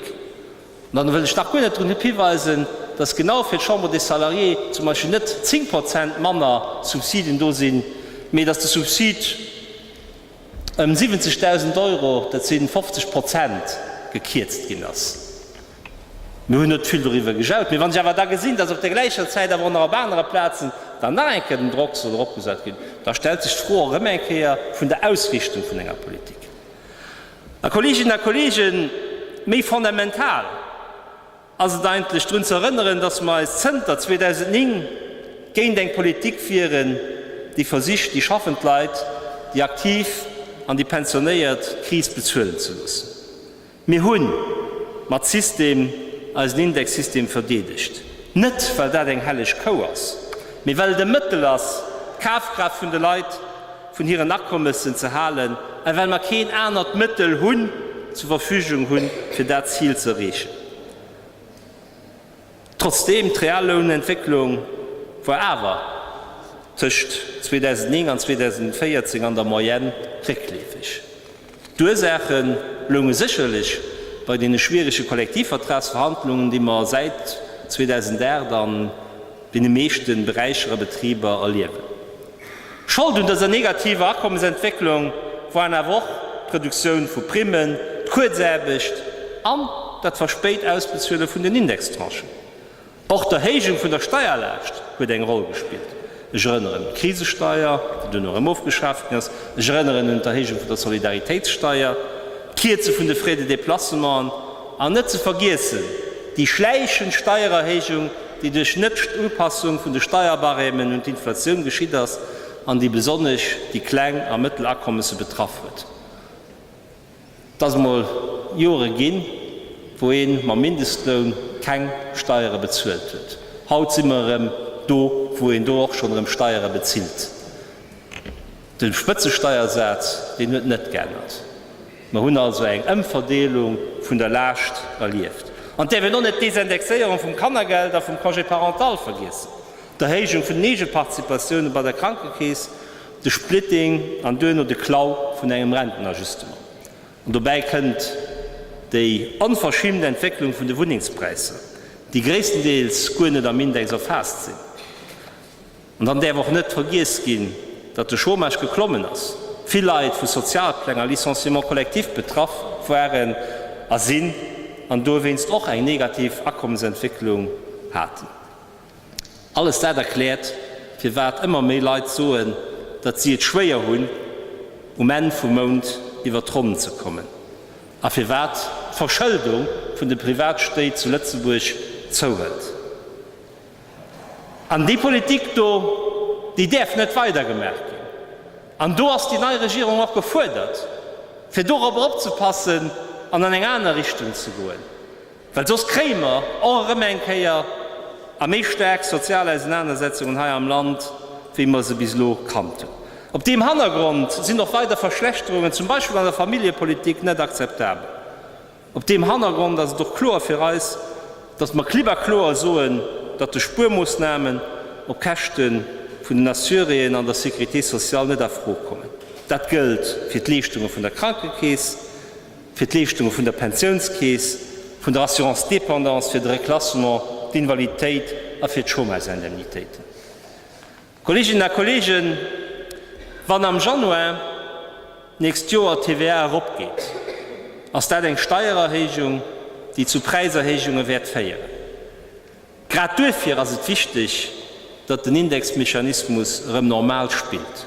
An dann wëll ech nach guer net drunop hiweisen, dass genau fir d'Chambre des Salariés zum Beispill net 10 Prozent manner Subsiden do sinn, mee dass de Subsid, ëm 70.000 Euro, dat si 50 Prozent, gekierzt ginn ass. Mir hunn net vill doriwwer gejaut, mee wann ech awer da gesinn, datt op der gläicher Zäit awer och nach op anere Plazen dann nach eng Kéier den Drock soll eropgesat ginn, da stellt sech d'Fro erëm eng Kéier vun der Ausrichtung vun enger Politik. A Kolleeginnen a Kolleegen, méi fondamental, ass et eigentlech drun ze erënneren, dass mer eis zënter 2009 géint eng Politik wieren, déi versicht, déi schaffend Leit, déi Aktiv an déi Pensionéiert d'Kris bezuelen ze loossen. Mir hu mat System eisen Indexsystem verdeedegt, net well dat eng helleg Kou ass, mee well et e Mëttel ass, d'Kafkraaft vun de Leit, vun hiren Akommessen ze halen, a well mer keen anert Mëttel hunn, zur Verfügung hunn, fir dat Zil ze erreechen. Trotzdeem, d'real Lounentwécklung war awer tëscht 2009 an 2014 an der Moyenne réckleefeg. D'Ursaache lounge sécherlech bei deene schwierege Kollektivvertragsverhandlungen, déi mer säit 2008 an deene meeschte Beräicher a Betriber erliewen. Schold un dëser negativer Akommesentwécklung waren awer och d'Reduktioun vu Primmen, d'Kuerzaarbecht an dat verspéit Ausbezuele vun den Indextranchen. Och d'Erhéijung vun der Steierlaascht huet eng Roll gespillt. Ech erënneren un d'Krisesteier, déi duerno erëm ofgeschaaft ginn ass. Ech erënneren un d'Erhéijung vun der Solidaritéitssteier, d'Kierze vun de Frais de déplacement an, net ze vergiessen, déi schläichend Steiererhéijung, déi duerch Net-Upassung vun de Steierbarèmen un d'Inflatioun geschitt ass an déi besonnesch déi kleng a mëttel Akommesse betraff huet. Et ass emol Jore ginn, wou ee mam Mindestloun keng Steiere bezuelt huet. Haut si mer erëm do, wou een do och schonn erëm Steiere bezilt. De Spëtzesteiersaz, deen huet net geännert. Mer hunn also eng Ëmverdeelung vun der Laascht erlieft. An et däerf een och net d'Désindexéierung vum Kannergeld a vum Congé parental vergiessen, d'Erhéijung vun den Eegeparticipatiounen bei der Krankekeess, de Splitting an duerno de Klau vun engem Rentenajustement. An dobäi kënnt déi onverschimmt Entwécklung vun de Wunnengspräisser, déi gréisstendeels guer net am Index erfaasst sinn. An dann däerf och net vergiess ginn, datt de Chômage geklommen ass, vill Leit vu Sozialpläng a Licenciements collectifs betraff waren a sinn an dowéinst och eng negativ Akommesentwécklung haten. Alles dat erkläert, firwat ëmmer méi Leit soen, datt si et schwéier hunn, um Enn vum Mount iwwert d'Ronn ze kommen, a firwat d'Verschëldung vun de Privatstéit zu Lëtzebuerg zouhëlt. An déi Politik do, déi däerf net weidergemaach ginn. An do ass déi nei Regierung och gefuerdert, fir dorobber opzepassen an an eng aner Richtung ze goen. Well soss kréie mer och erëm eng Kéier a méi staark sozial Ausenanersetzungen hei am Land, wéi mer se bis elo kannt hunn. Op deem Hannergrond sinn och weider Verschlechterungen, zum Beispill an der Familljepolitik, net akzeptabel. Op deem Hannergrond ass et och kloer fir eis, datt mer klipp a kloer soen, datt de Spuermoossnamen op Käschte vun den Assuréeën an der Sécurité sociale net a Fro kommen. Dat gëllt fir d'Leeschtunge vun der Krankekeess, fir d'Leeschtunge vun der Pensiounskeess, vun der Assurance dépendance, fir de Reklassement, d'Invaliditéit a fir d'Chômagesindemnitéiten. Kolleeginnen a Kolleegen, wann am Januar d'nächst Joer d'TVA eropgeet, ass dat eng Steiererhéijung, déi zu Präiserhéijunge wäert féieren. Grad duerfir ass et wichteg, datt den Indexmechanismus erëm normal spillt.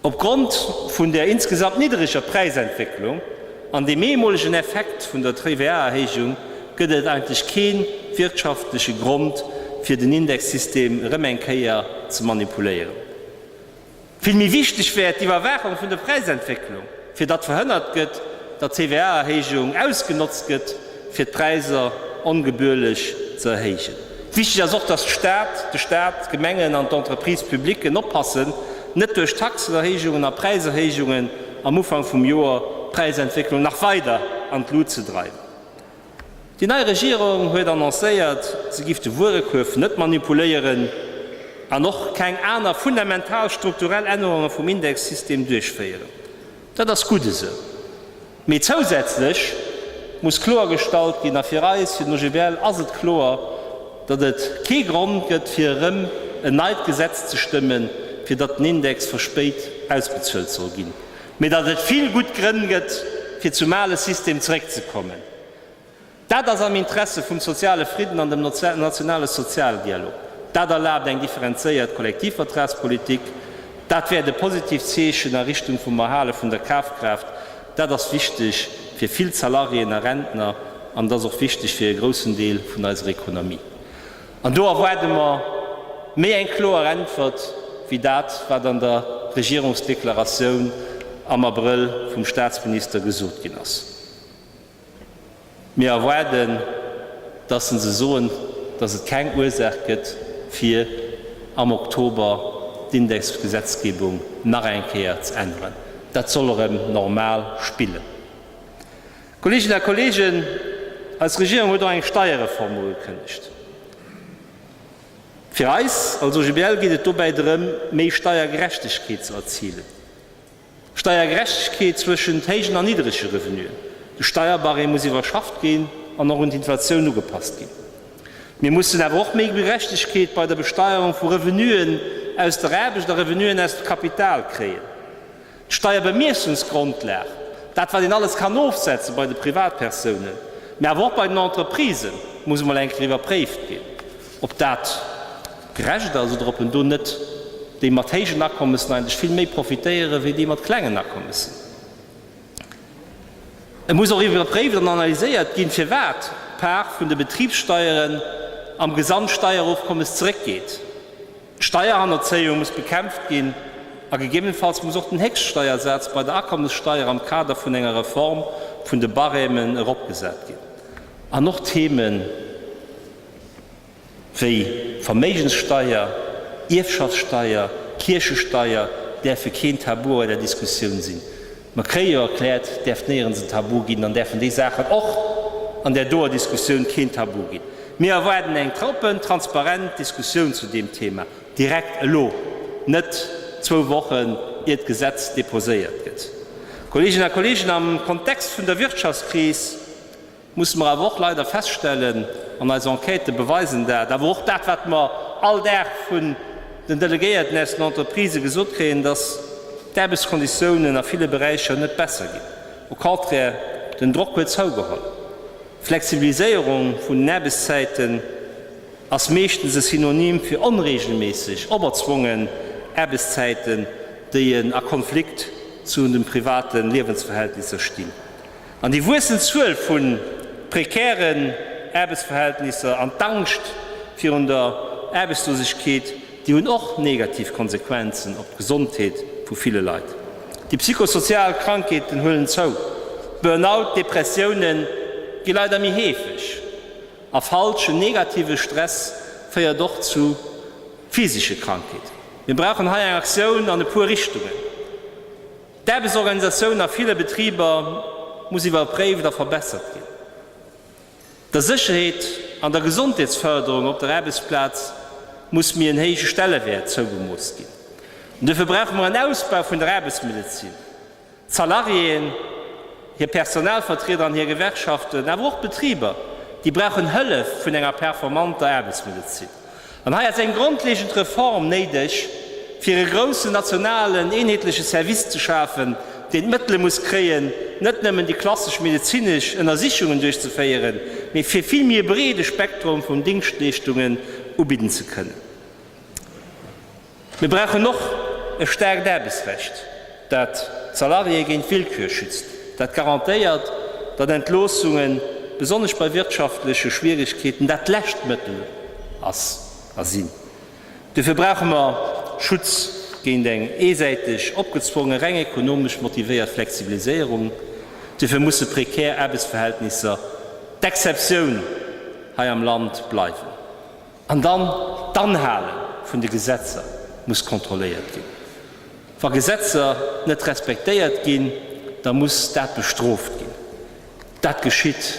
Opgrond vun der insgesamt niddereger Präisentwécklung an dem eemolegen Effekt vun der TVA-Erhéijung gëtt et eigentlech kee wirtschaftleche Grond, fir den Indexsystem erëm eng Kéier ze manipuléieren. Vill méi wichteg wär d'Iwwerwaachung vun der Präisentwécklung, fir datt verhënnert gëtt, datt d'TVA-Erhéijung ausgenotzt gëtt, fir d'Präisser ongebührlech ze erhéijen. Wichteg ass och, dass d'Stad, de Stat, d'Gemengen an d'Entreprises publiques oppassen, net duerch Taxenerhéijungen a Präiserhéijungen am Ufank vum Joer d'Präisentwécklung nach weider an d'Lut ze dreiwen. Déi nei Regierung huet annoncéiert, se giff de Wuerekuerf net manipuléieren an och keng aner fundamental strukturell Ännerunge vum Indexsystem duerchféieren. Dat ass gutt esou. Mee zousätzlech muss kloergestallt ginn, a fir eis, fir den OGBL, ass et kloer, datt et kee Grond gëtt, fir erëm en neit Gesetz ze stëmmen, fir datt den Index verspéit ausbezuelt soll ginn, mee datt et vill gutt Grënn gëtt, fir zum ale System zeréckzekommen. Dat ass am Interesse vum soziale Fridden an dem nationale Sozialdialog. Dat erlaabt eng differenzéiert Kollektivvertragspolitik. Dat wäert e positiivt Zeechen a Richtung vum Erhale vun der Kafkraaft. Dat ass wichteg fir vill Salariéen a Rentner an et ass och wichteg fir e groussen Deel vun eiser Ekonomie. An do erwaarde mer méi eng kloer Äntwert wéi dat, wat an der Regierungsdeklaratioun am Abrëll vum Staatsminister gesot ginn ass. Mir erwaarden, dass se se soen, dass et keng Ursaach gëtt, fir am Oktober d'Indexgesetzgebung nach eng Kéier ze änneren. Dat soll erëm normal spillen. Kolleeginnen a Kolleegen, eis Regierung huet och eng Steierreform ugekënnegt. Fir eis als OGBL geet et dobäi drëm, méi Steiergerechtegkeet ze erzilen. Steiergerechtegkeet zwëschent héijen an niddrege Revenuen, de Steierbarème muss iwwerschafft ginn an och un d'Inflatioun ugepasst ginn. Mir mussen awer och méi Gerechtegkeet bei der Besteierung vu Revenuen aus der Aarbecht a Revenuen aus dem Kapital kréien. D'Steierbemiessungsgrondlag, dat wat een alles kann ofsetzen bei de Privatpersounen, mä awer och bei den Entreprisen, muss emol eng Kéier iwwerpréift ginn. Ob dat gerecht ass oder ob een do net déi mat héijen Akommessen eigentlech vill méi profitéieren, wéi déi mat klengen Akommessen. Et muss och iwwerpréift an analyséiert ginn, firwat d'Part vun de Betribssteieren am Gesamtsteierofkommes zeréckgeet. D'Steierhannerzéiung muss bekämpft ginn a gegebenfalls muss och den Héchststeiersaz bei der Akommessteier am Kader vun enger Reform vun de Barèmen eropgesat ginn. An och d'Theme. wéi Verméigenssteier, Ierfschaftssteier, Kierchesteier, däerfe keen Tabu bei der Diskussioun sinn. Mä kréie jo erkläert, däerft néierens en Tabu ginn, dann däerfen déi Saachen och an där doer Diskussioun keen Tabu ginn. Mir erwaarden eng oppen, transparent Diskussioun zu deem Thema, direkt elo, net zwou Wochen, ier d'Gesetz deposéiert gëtt. Kolleeginnen a Kolleegen, am Kontext vun der Wirtschaftskris, musse mer awer och leider feststellen, an eis Enquêten beweisen dat, awer och dat wat mer all Dag vun den Delegéierten aus den Entreprisë gesot kréien, dass d'Aarbechtskonditiounen a ville Beräicher net besser ginn, au contraire, den Drock huet zougeholl. Flexibiliséierung vun den Aarbechtszäiten ass meeschtens e Synonym fir onreegelméisseg, operzwongen Aarbechtszäiten, déi a Konflikt zu de private Liewensverhältnisser stinn. An déi wuessend Zuel vu prekären Aarbechtsverhältnisser an d'Angscht virun der Aarbechtslosegkeet, déi hunn och negativ Konsequenzen op d'Gesondheet vu ville Leit. Déi psychosozial Krankheeten huelen zou, d'Burnout, Depressiounen gi leider méi heefeg, a falschen negative Stress féiert och zu physesche Krankheeten. Mir brauchen hei eng Aktioun an e puer Richtungen. D'Aarbechtsorganisatioun a ville Betriber muss iwwerpréift a verbessert ginn. Der Sécherheet an der Gesondheetsfërderung op der Aarbechtsplaz muss méi en héije Stellewäert zougemooss ginn. Duerfir brauche mer en Ausbau vun der Aarbechtsmedezin. D'Salariéen, hir Personalvertrieder an hir Gewerkschaften, awer och d'Betriber, déi brauchen Hëllef vun enger performanter Aarbechtsmedezin. An hei ass eng grondlegend Reform néideg, fir e groussen nationalen, eenheetleche Service ze schafen, deen d'Mëttele muss kréien, net nëmmen déi klassesch medezinesch Ënnersichungen duerchzeféieren, mee fir vill méi e breede Spektrum vun Dingschtleeschtungen ubidden ze kënnen. Mir brauchen och e staarkt Aarbechtsrecht, dat d'Salariéë géint Willkür schützt, dat garantéiert, datt Entloossungen, besonnesch bei wirtschaftleche Schwierigkeeten, dat lescht Mëttel ass a sinn. Dofir brauche mer Schutz géint eng eesäiteg opgezwonge, reng ekonomesch motivéiert Flexibiliséierung. Dofir musse prekär Aarbechtsverhältnisser d'Exceptioun hei am Land bleiwen. An dann, d'Anhale vun de Gesetzer muss kontrolléiert ginn. Wa Gesetzer net respektéiert ginn, da muss dat bestrooft ginn. Dat geschitt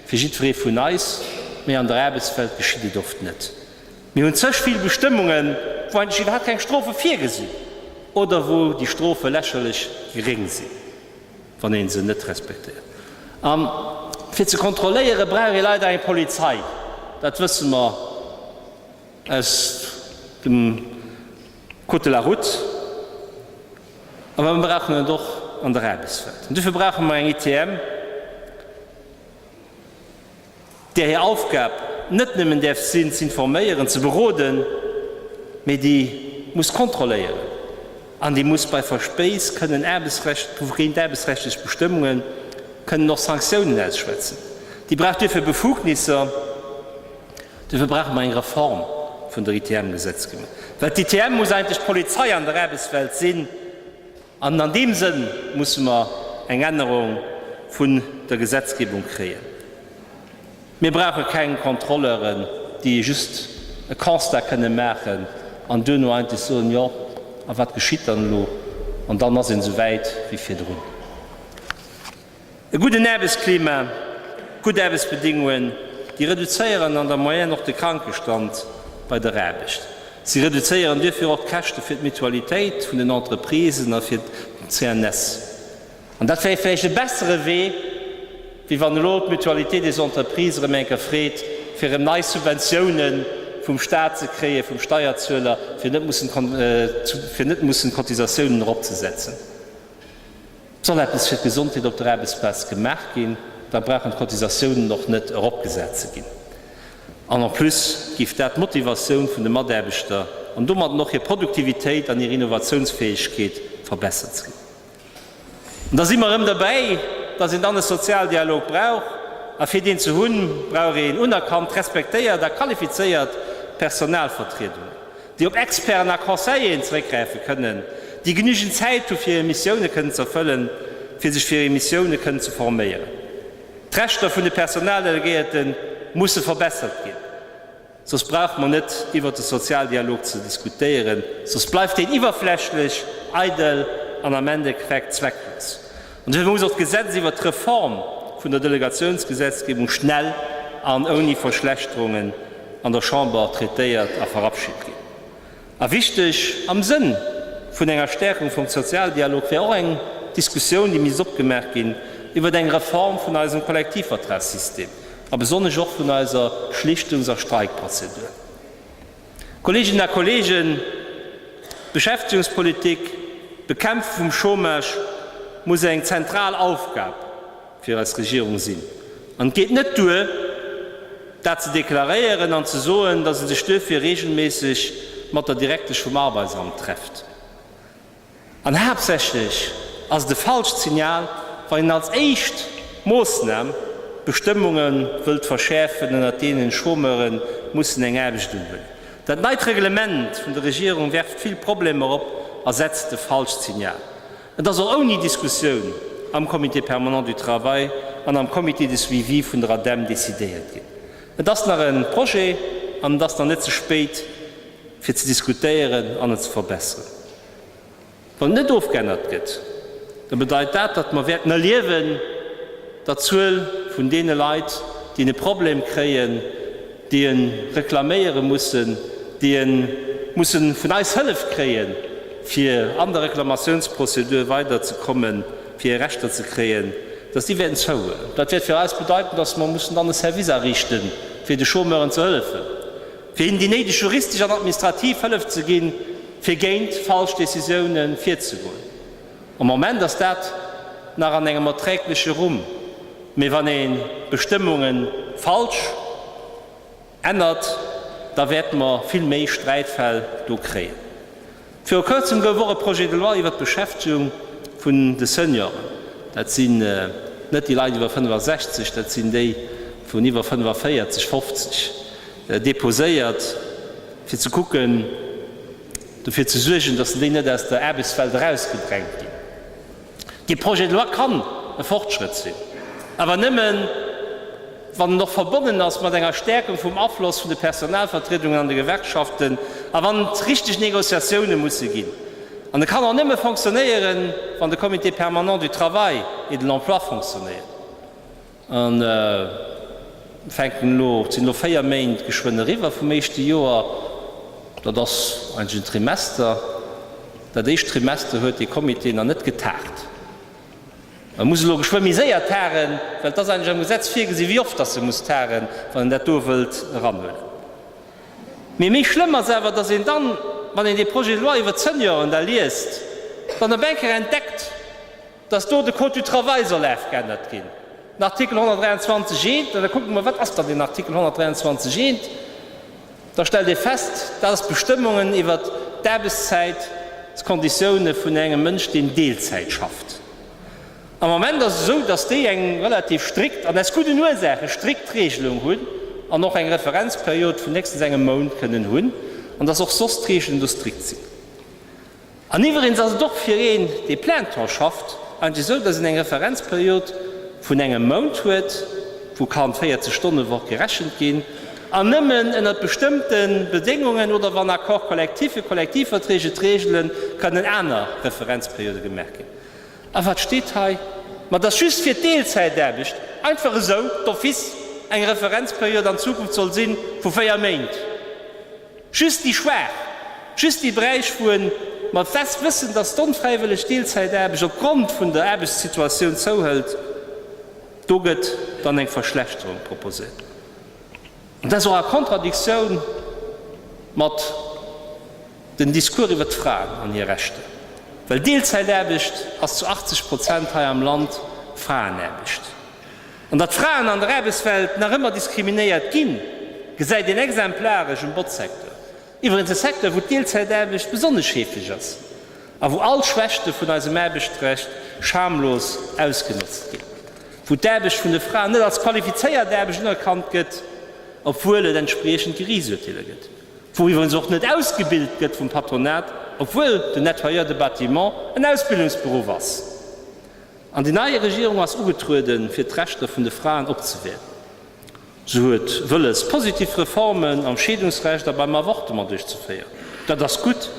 fir jiddweree vun eis, mee an der Aarbechtswelt geschitt et oft net. Mir hunn zech vill Bestëmmungen, wou eigentlech iwwerhaapt keng Strofe virgesinn oder wou déi Strofe lächerlech geréng sinn. wann ee se net respektéiert. A fir ze kontrolléiere brauch ee leider eng Polizei, dat wësse mer aus dem Code de la Route, awer mer brauchen et och an der Aarbechtswelt. An dofir brauche mer eng ITM. där hir Aufgab net nëmmen däerf sinn, z'informéieren, ze beroden, mee déi muss kontrolléieren an déi muss bei Verspéiss kënnen Aarbechtsrecht, géint aarbechtsrechtlech Bestëmmungen kënnen och Sanktiounen ausschwätzen. Déi brauch duerfir Befugnisser. Duerfir brauche mer eng Reform vun der ITM-Gesetzgebung, well d'ITM muss eigentlech d'Polizei an der Aarbechtswelt sinn, An an deem Sënn musse mer eng Ännerung vun der Gesetzgebung kréien. Mir brauche keng Kontrolleuren, déi just e Constat kënne maachen an duerno eigentlech soen, Jo, a wat geschitt dann elo? An dann ass een esou wäit wéi virdrun. E gudden Aarbechtsklima, gutt Aarbechtsbedingungen, déi reduzéieren an der Moyenne och de Krankestand bei der Aarbecht. Si reduzéieren duerfir och d'Käschte fir d'Mutualitéit vun den Entreprisen a fir d'CNS. An dat wär vläicht e bessere Wee, wéi wann elo d'Mutualité des entreprises erëm eng Kéier freet, fir erëm nei Subventioune vum Staat ze kréien, vum Steierzueler, fir net mussen d'Cotisatiounen eropzesetzen. Soll eppes fir d'Gesondheet op der Aarbechtsplaz gemaach ginn, da brauchen d'Cotisatiounen och net eropgesat ze ginn. An en plus géif dat d'Motivatioun vun de Mataarbechter an domatten och hir Produktivitéit an hir Innovatiounsfäegkeet verbessert. Sou, an da si mer erëm derbäi, dass een dann e Sozialdialog brauch. A fir deen ze hunn, brauch een unerkannt, respektéiert a qualifizéiert Personalvertriedungen. déi op Experten a Conseilleren zeréckgräife kënnen, déi genügend Zäit hu fir hir Missioune kënnen ze erfëllen, fir sech fir hir Missioune kënnen ze forméieren. D'Rechter vun de Personaldelegéierte musse verbessert ginn, soss brauche mer net iwwert de Sozialdialog ze diskutéieren, soss bleift deen iwwerflächlech, eidel an am Endeffekt zwecklos. An duerfir muss och d'Gesetz iwwert d'Reform vun der Delegatiounsgesetzgebung schnell an ouni Verschlechterungen an der Chamber traitéiert a verabschit ginn. A wichteg am Sënn vun enger Stärkung vum Sozialdialog wär och eng Diskussioun, déi misst opgemaach ginn, iwwert eng Reform vun eisem Kollektivvertragssystem a besonnesch och vun eiser Schlichtungs a Streikprozedur. Kolleeginnen a Kolleegen, d'Beschäftigungspolitik, d'Bekämpfung vum Chômage muss eng zentral Aufgab fir eis Regierung sinn. An et geet net duer, dat ze deklaréieren an ze soen, dass e sech duerfir regelméisseg mat der Direktesch vum Arbeitsamt trefft. An haaptsächlech ass et e falscht Signal, wann een als éischt Moossnam d'Bestëmmunge wëllt verschäerfen, ënnert deenen Chômeure mussen eng Aarbecht do hunn. Dat neit Reglement vun der Regierung werft vill Problemer op a setzt e falscht Signal. Et ass och ouni Diskussioun am Comité permanent du travail an am Comité de suivi vun der ADEM decidéiert ginn. Et ass nach e Projet an et ass nach net ze spéit, fir ze diskutéieren an et ze verbesseren. Wann net ofgeännert gëtt, da bedeit dat, datt mer wäerten erliewen, datt d'Zuel vun deene Leit, déi e Problem kréien, déi e reklaméiere mussen, déi e musse vun eis Hëllef kréie fir an der Reklamatiounsprozedur weider ze kommen, fir hir Rechter ze kréien, datt déi wäerten zouhuelen. Dat wäert fir eis bedeiten, datt mer mussen dann e Service ariichte fir de Chômeuren ze hëllefen. fir hinnen déi néideg juristesch an administrativ Hëllef ze ginn, fir géint falsch Decisiounen virzegoen. Am Moment ass dat nach an engem erträgleche Rumm, mee wann ee Bestëmmunge falsch ännert, da wäerte mer vill méi Sträitfäll do kréien. Viru Kërzem gouf och e Projet de loi iwwert d'Beschäftegung vun de Senioren, dat sinn net déi Leit iwwer 65, dat sinn déi vun iwwer 45, 50, deposéiert, fir ze kucken, dofir ze suergen, datt se déi net aus der Aarbechtswelt erausgedrängt ginn. Dee Projet de loi kann e Fortschrëtt sinn, awer nëmmen, wann en och verbonnen ass mat enger Stärkung vum Afloss vun de Personalvertriedungen an de Gewerkschaften a wann et richtig Négociatiounen musse ginn. An e kann och nëmme fonctionnéieren, wann de Comité permanent du travail et de l'emploi fonctionnéiert. A fänken elo, et sinn elo 4 Méint geschwënn eriwwer vum éischte Joer, dat ass eigentlech en Trimester. Dat éischt Trimester huet dee Comité nach net getagt. E muss elo geschwë méi séier tagen, well et ass eigentlech am Gesetz virgesinn, wéi oft datt e muss tagen, wann en dat do wëllt eranhuelen. Mee méi schlëmm ass awer, datt een dann, wann een dee Projet de loi iwwert d'Senioren da liest, dann op eng Kéier entdeckt, dass do de Code du travail soll afgeännert ginn, den Artikel 123 I. An da kucke mer, Wat ass dann deen Artikel 123 I? Da stellt ee fest, Dat ass d'Bestëmmungen iwwer d'Aarbechtszäitsconditioune vun engem Mënsch, deen Deelzäit schafft. Am Moment ass et esou, dass déi eng relativ strikt, an aus gudden Ursaachen, strikt Reegelung hunn an och eng Referenzperiod vun héchstens engem Mount kënnen hunn an dass och soss d'Reegelen do strikt sinn. An iwwereens ass et och fir een, dee plein temps schafft, eigentlech esou, dass een eng Referenzperiod vun engem Mount huet, wou kann d'Véierzeg-Stonne-Woch gerechent ginn, an nëmmen ënnert bestëmmte Bedéngungen oder wann Accord collectif fir Kollektivverträg et regelen, kënnen aner Referenzperiode gemaach ginn. A wat steet hei? Ma dass just fir d'Deelzäitaarbecht einfach esou d'office eng Referenzperiod an Zukunft soll si vu véier Méint! Just déi Schwaach, just déi Bräichwuen mat West wëssen, dass d'onfräiwëlleg Deelzäitaarbecht op Grond vun der Aarbechtssituatioun zouhëlt. Do gëtt dann eng Verschlechterung proposéiert. An dat ass och a Contradictioun mat den Discours iwwert d'Fraen an hir Rechter, well Deelzäitaarbecht ass zu 80 Prozent hei am Land Fraenaarbecht. An datt Fraen an der Aarbechtswelt nach ëmmer diskriminéiert ginn, gesäit een exemplaresch um Botzsecteur, iwwregens e Secteur, wou d'Deelzäitaarbecht besonnesch heefeg ass a wou all Schwächte vun eisem Aarbechtsrecht schamlos ausgenotzt ginn, wou d'Aarbecht vun de Fraen net als qualifizéiert Aarbecht unerkannt gëtt, obwuel et entspriechend Geriichtsurteeler gëtt, wou iwwregens och net ausgebilt gëtt vum Patronat, obwuel den Nettoyeur de Bâtiment en Ausbildungsberuff ass. An déi nei Regierung ass ugetrueden, fir d'Rechter vun de Fraen opzewäerten. Se huet wëlles, positiv Reformen am Scheedungsrecht a beim Avortement duerchzeféieren. Dat ass gutt.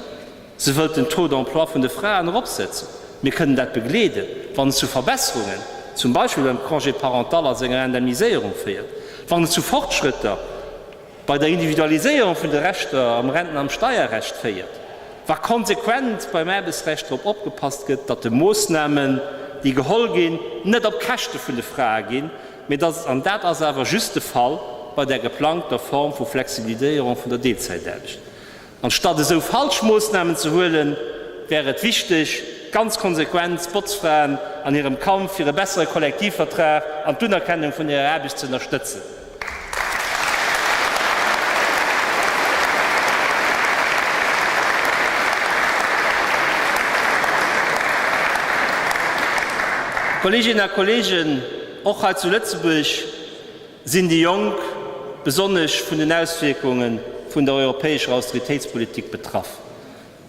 Se wëllt den Taux d'emploi vun de Fraen eropsetzen. Mir kënnen dat begleeden, wann et zu Verbesserungen, zum Beispill beim Congé parental a senger Indemniséierung féiert, wann et zu Fortschrëtter, bei der Individualiséierung vun de Rechter am Renten am Steierrecht féiert, wa konsequent beim Aarbechtsrecht drop opgepasst gëtt, datt de Moossnamen, déi geholl ginn, net op Käschte vun de Frae ginn, mee datt et, an dat ass awer just de Fall bei der geplangter Form vu Flexibiliséierung vun der Deelzäitaarbecht, Anstatt esou falsch Moossnamen ze huelen, wär et wichteg, ganz konsequent d'Botzfraen an hirem Kampf fir e bessere Kollektivvertrag an d'Unerkennung vun hirer Aarbecht ze ënnerstëtzen. Kolleeginnen a Kolleegen, och hei zu Lëtzebuerg, Sinn déi Jonk besonnesch vun den Auswierkunge vun der europäescher Austeritéitspolitik betraff?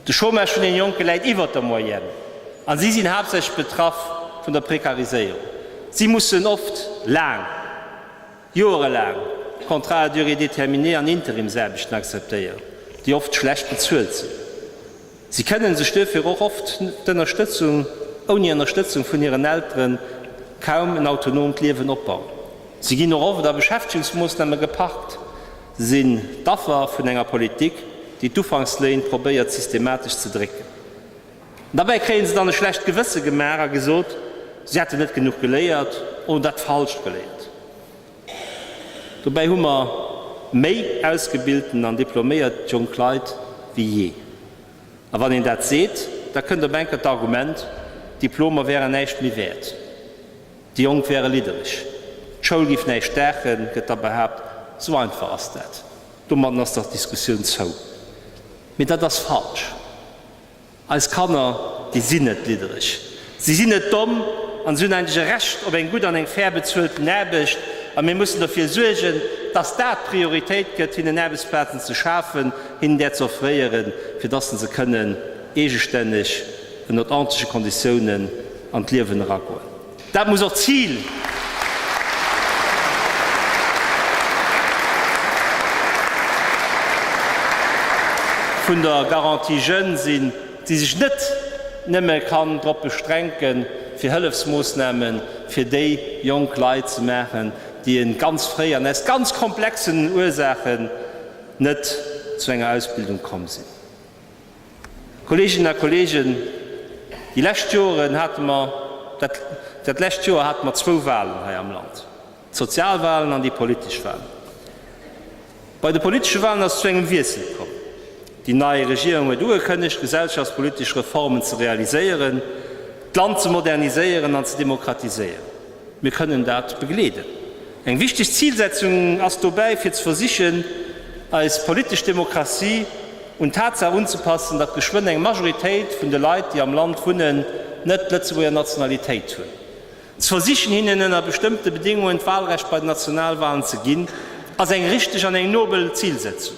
De Chômage vun den Jonke läit iwwert der Moyenne a si sinn haaptsächlech betraff vun der Prekariséierung. Si mussen oft laang, joerelaang Contrats à durée déterminée an Interimsaarbechten akzeptéieren, déi oft schlecht bezuelt sinn. Si kënnen sech duerfir och oft d'Ënnerstëtzung, ouni Ënnerstëtzung vun hiren Elteren, kaum en autonoomt Liewen opbauen. Si ginn och oft a Beschäftegungsmoossname geparkt, sinn d'Affer vun enger Politik, déi d'Ufanksléin probéiert systematesch ze drécken. An derbäi kréien se dann e schlecht Gewësse gemaach a gesot, si hätten net genuch geléiert oder dat Falscht geléiert. Dobäi hu mer méi ausgebilten an diploméiert jonk Leit wéi jee. A wann een dat seet, da kënnt op eng Kéier d'Argument, d'Diplomer wären näischt méi wäert, déi Jonk wäre liddereg, d'Schoul géif näischt daachen, gëtt da behaapt. Esou einfach ass dat. Domatten ass dach d'Diskussioun zou. Mee dat ass falsch. Eis Kanner, déi sinn net liddereg, si sinn net domm an si hunn eigentlech e Recht op eng gutt an eng fair bezuelten Aarbecht. A mir mussen dofir suergen, dass dat d'Prioritéit gëtt, hinnen Aarbechtsplazen ze schafen, hinnen där ze offréieren, fir dass se kënnen eegestänneg ënnert ordentleche Konditiounen an d'Liewen eragoen. Dat muss och d'Zil vun der Garantie jeunes sinn, déi sech net nëmme kann drop beschränken, fir Hëllefsmoossnamen fir déi jonk Leit ze maachen, déi e ganz fréi an aus ganz komplexen Ursaachen net zu enger Ausbildung komm sinn. Kolleeginnen a Kolleegen, déi lescht Joren hate mer, dat dat lescht Joer hate mer zwou Wahlen hei am Land, d'Sozialwahlen an déi politesch Wahlen. Bei de politesche Wahlen ass et zu engem Wiessel komm. Déi nei Regierung huet ugekënnegt, gesellschaftspolitesch Reformen ze realiséieren, d'Land ze moderniséieren an ze demokratiséieren. Mir kënnen dat begleeden. Eng wichteg Zilsetzung ass dobäi, fir ze versichen, eis politesch Demokratie un d'Tatsaach unzepassen, datt geschwënn eng Majoritéit vun de Leit, déi am Land wunnen, net d'Lëtzebuerger Nationalitéit hunn, ze versichen, hinnen ënner bestëmmte Bedéngungen d'Walrecht bei den Nationalwalen ze ginn, ass eng richteg an eng nobel Zilsetzung.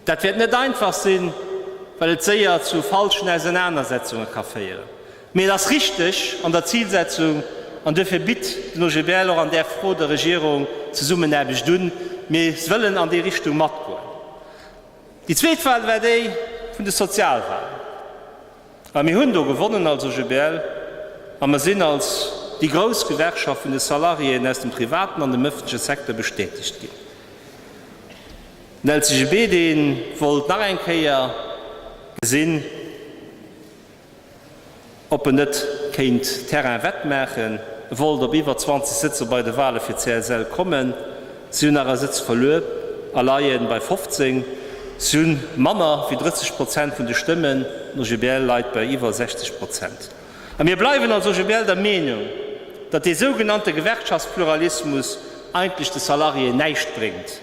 Dat wäert net einfach sinn, well et séier zu falschen Ausenanersetzunge ka féieren. Mee et ass richteg an der Zilsetzung an duerfir bitt den OGBL och an där Fro der Regierung Zesummenaarbecht un. Mir wëllen an déi Richtung matgoen. Déi zweet Wal war déi vun de Sozialwalen. A mir hunn do gewonnen als OGBL a mer sinn als déi grouss Gewerkschaft vun de Salariéeën aus dem privaten an dem ëffentleche Secteur bestätegt ginn. D'Nelsy Gebede wollt nach eng Kéier gesinn, ob en net kéint Terrain wett maachen. E wollt op iwwer 20 Sëtzer bei de Wale fir d'CSL kommen. Si hunn nach e Sëtz verluer a leie bei 15. Si hu manner wéi 30 Prozent vun de Stëmmen. D'OGBL leit bei iwwer 60 Prozent. A mir bleiwen als OGBL der Meenung, datt dee sougenannte Gewerkschaftspluralismus eigentlech de Salariéen näischt bréngt.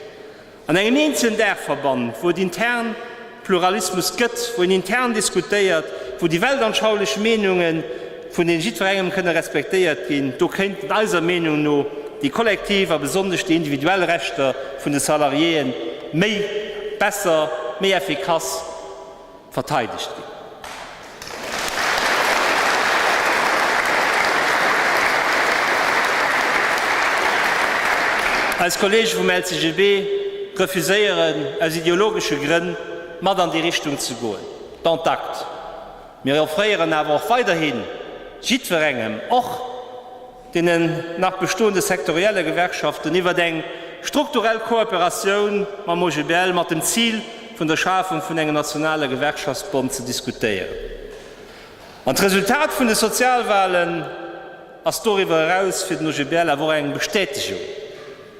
An engem eenzelen Daachverband, wou et intern Pluralismus gëtt, wou een intern diskutéiert, wou déi weltanschaulech Meenunge vun deene jiddwerengem kënne respektéiert ginn, do kéinten eiser Meenung no déi kollektiv a besonnesch déi individuell Rechter vun de Salariéë méi, besser, méi effikass, verteidegt ginn. Eis Kollege vum LCGB refuséieren aus ideologesche Grënn, mat an déi Richtung ze goen, dont acte. Mir offréieren awer och weiderhi jiddwerengem, och. deenen nach bestoende sektorielle Gewerkschaften, iwwert eng strukturell Kooperatioun mam OGBL mat dem Zil vun der Schafung vun engem nationale Gewerkschaftsbond ze diskutéieren. An d'Resultat vun de Sozialwahlen ass doriwwer eraus fir den OGBL awer och eng Bestätegung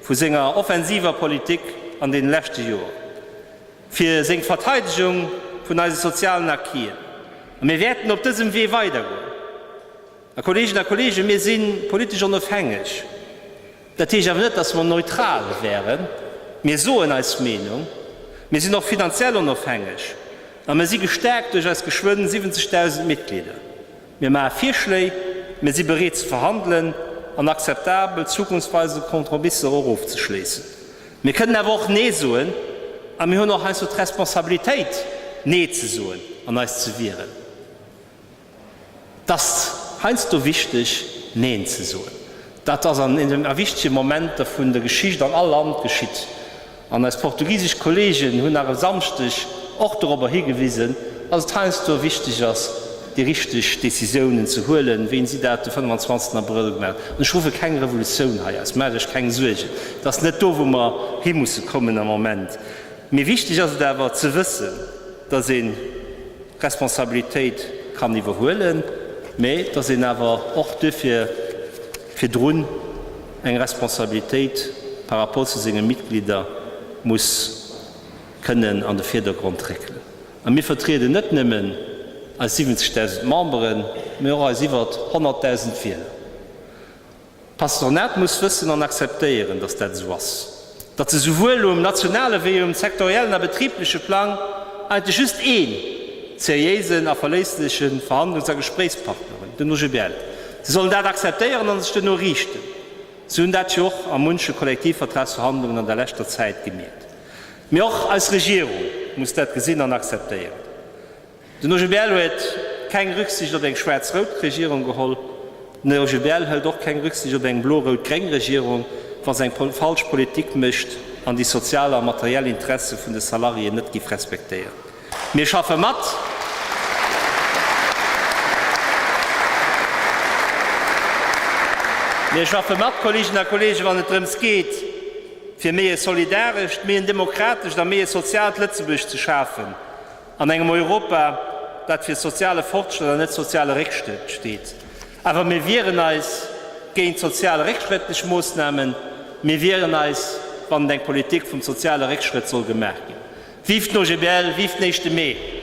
vu senger offensiver Politik an deene leschte Joer fir seng Verteidegung vun eise sozialen Acquisen. A mir wäerten op dësem Wee weidergoen. Här Kolleginnen a Kollegen, mir si politesch onofhängeg. Dat heescht awer net, dass mer neutral wäeren. Mir soen eis Meenung. Mir sinn och finanziell onofhängeg a mir si gestärkt duerch eis geschwënn 70.000 Mitglieder. Mir maache Virschléi, mir si bereet ze verhandelen an akzeptabel, zukunftsweisend Kompromisser och ofzeschléissen. Mir kënnen awer och Nee soen a mir hunn och heiansdo d'Responsabilitéit, Nee ze soen an eis ze wieren. 't ass heiansdo wichteg Neen ze soen. Dat ass an a wichtege Momenter vun der Geschicht an all Land geschitt. An eis portugisesch Kolleegen hunn nach e Samschdeg och dorobber higewisen, datt et heiansdo wichteg ass, déi richteg Decisiounen ze huelen, wéi si dat de 25 Abrëll gemaach hunn. An ech ruffe keng Revolutioun hei aus, maacht Iech keng Suergen, et ass net do, wou mer himusse kommen am Moment. Mee wichteg ass et awer ze wëssen. dass ee Responsabilitéit kann iwwerhuelen, mä dass een awer och duerfir virdrun eng Responsabilitéit par rapport zu senge Mitglieder muss kënnen an de Virdergrond réckelen. A mir vertrieden net nëmmen eis 70.000 Memberen, mä och eis iwwert 100.000 Wieler. D'Patronat muss wëssen an akzeptéieren, datt dat esou ass, datt se souwuel um nationale wéi um sektoriellen a betribleche Plang eigentlech just ee seriéisen a verléissleche Verhandlungs a Gespréichspartner hunn, den OGBL. Si sollen dat akzeptéieren a sech duerno riichten. Si hunn dat jo och a munche Kollektivvertragsverhandlungen an der leschter Zäit gemierkt. Mee och eis Regierung muss dat gesinn an akzeptéieren. Den OGBL huet keng Rücksicht op eng schwaarz-rout Regierung geholl. Den OGBL hëlt och keng Rücksicht op eng blo-rout-gréng Regierung, wa se eng falsch Politik mécht an déi sozial a materiell Interesse vun de Salariéen net giff respektéieren. Mir schaffe mat. Mir schaffe mat, Kolleginnen a Kollegen, wann et drëms geet, fir méi e solidarescht, méi en demokratescht a méi e soziaalt Lëtzebuerg ze schafen. An engem Europa, dat fir soziale Fortschrëtt an net soziale Réckschrëtt steet. Awer mir wieren eis géint sozial réckschrëttlech Moossnamen. Mir wieren eis, wann et eng Politik vum soziale Réckschrëtt soll gemaach ginn. Vive d'OGBL, vive den éischte Mee!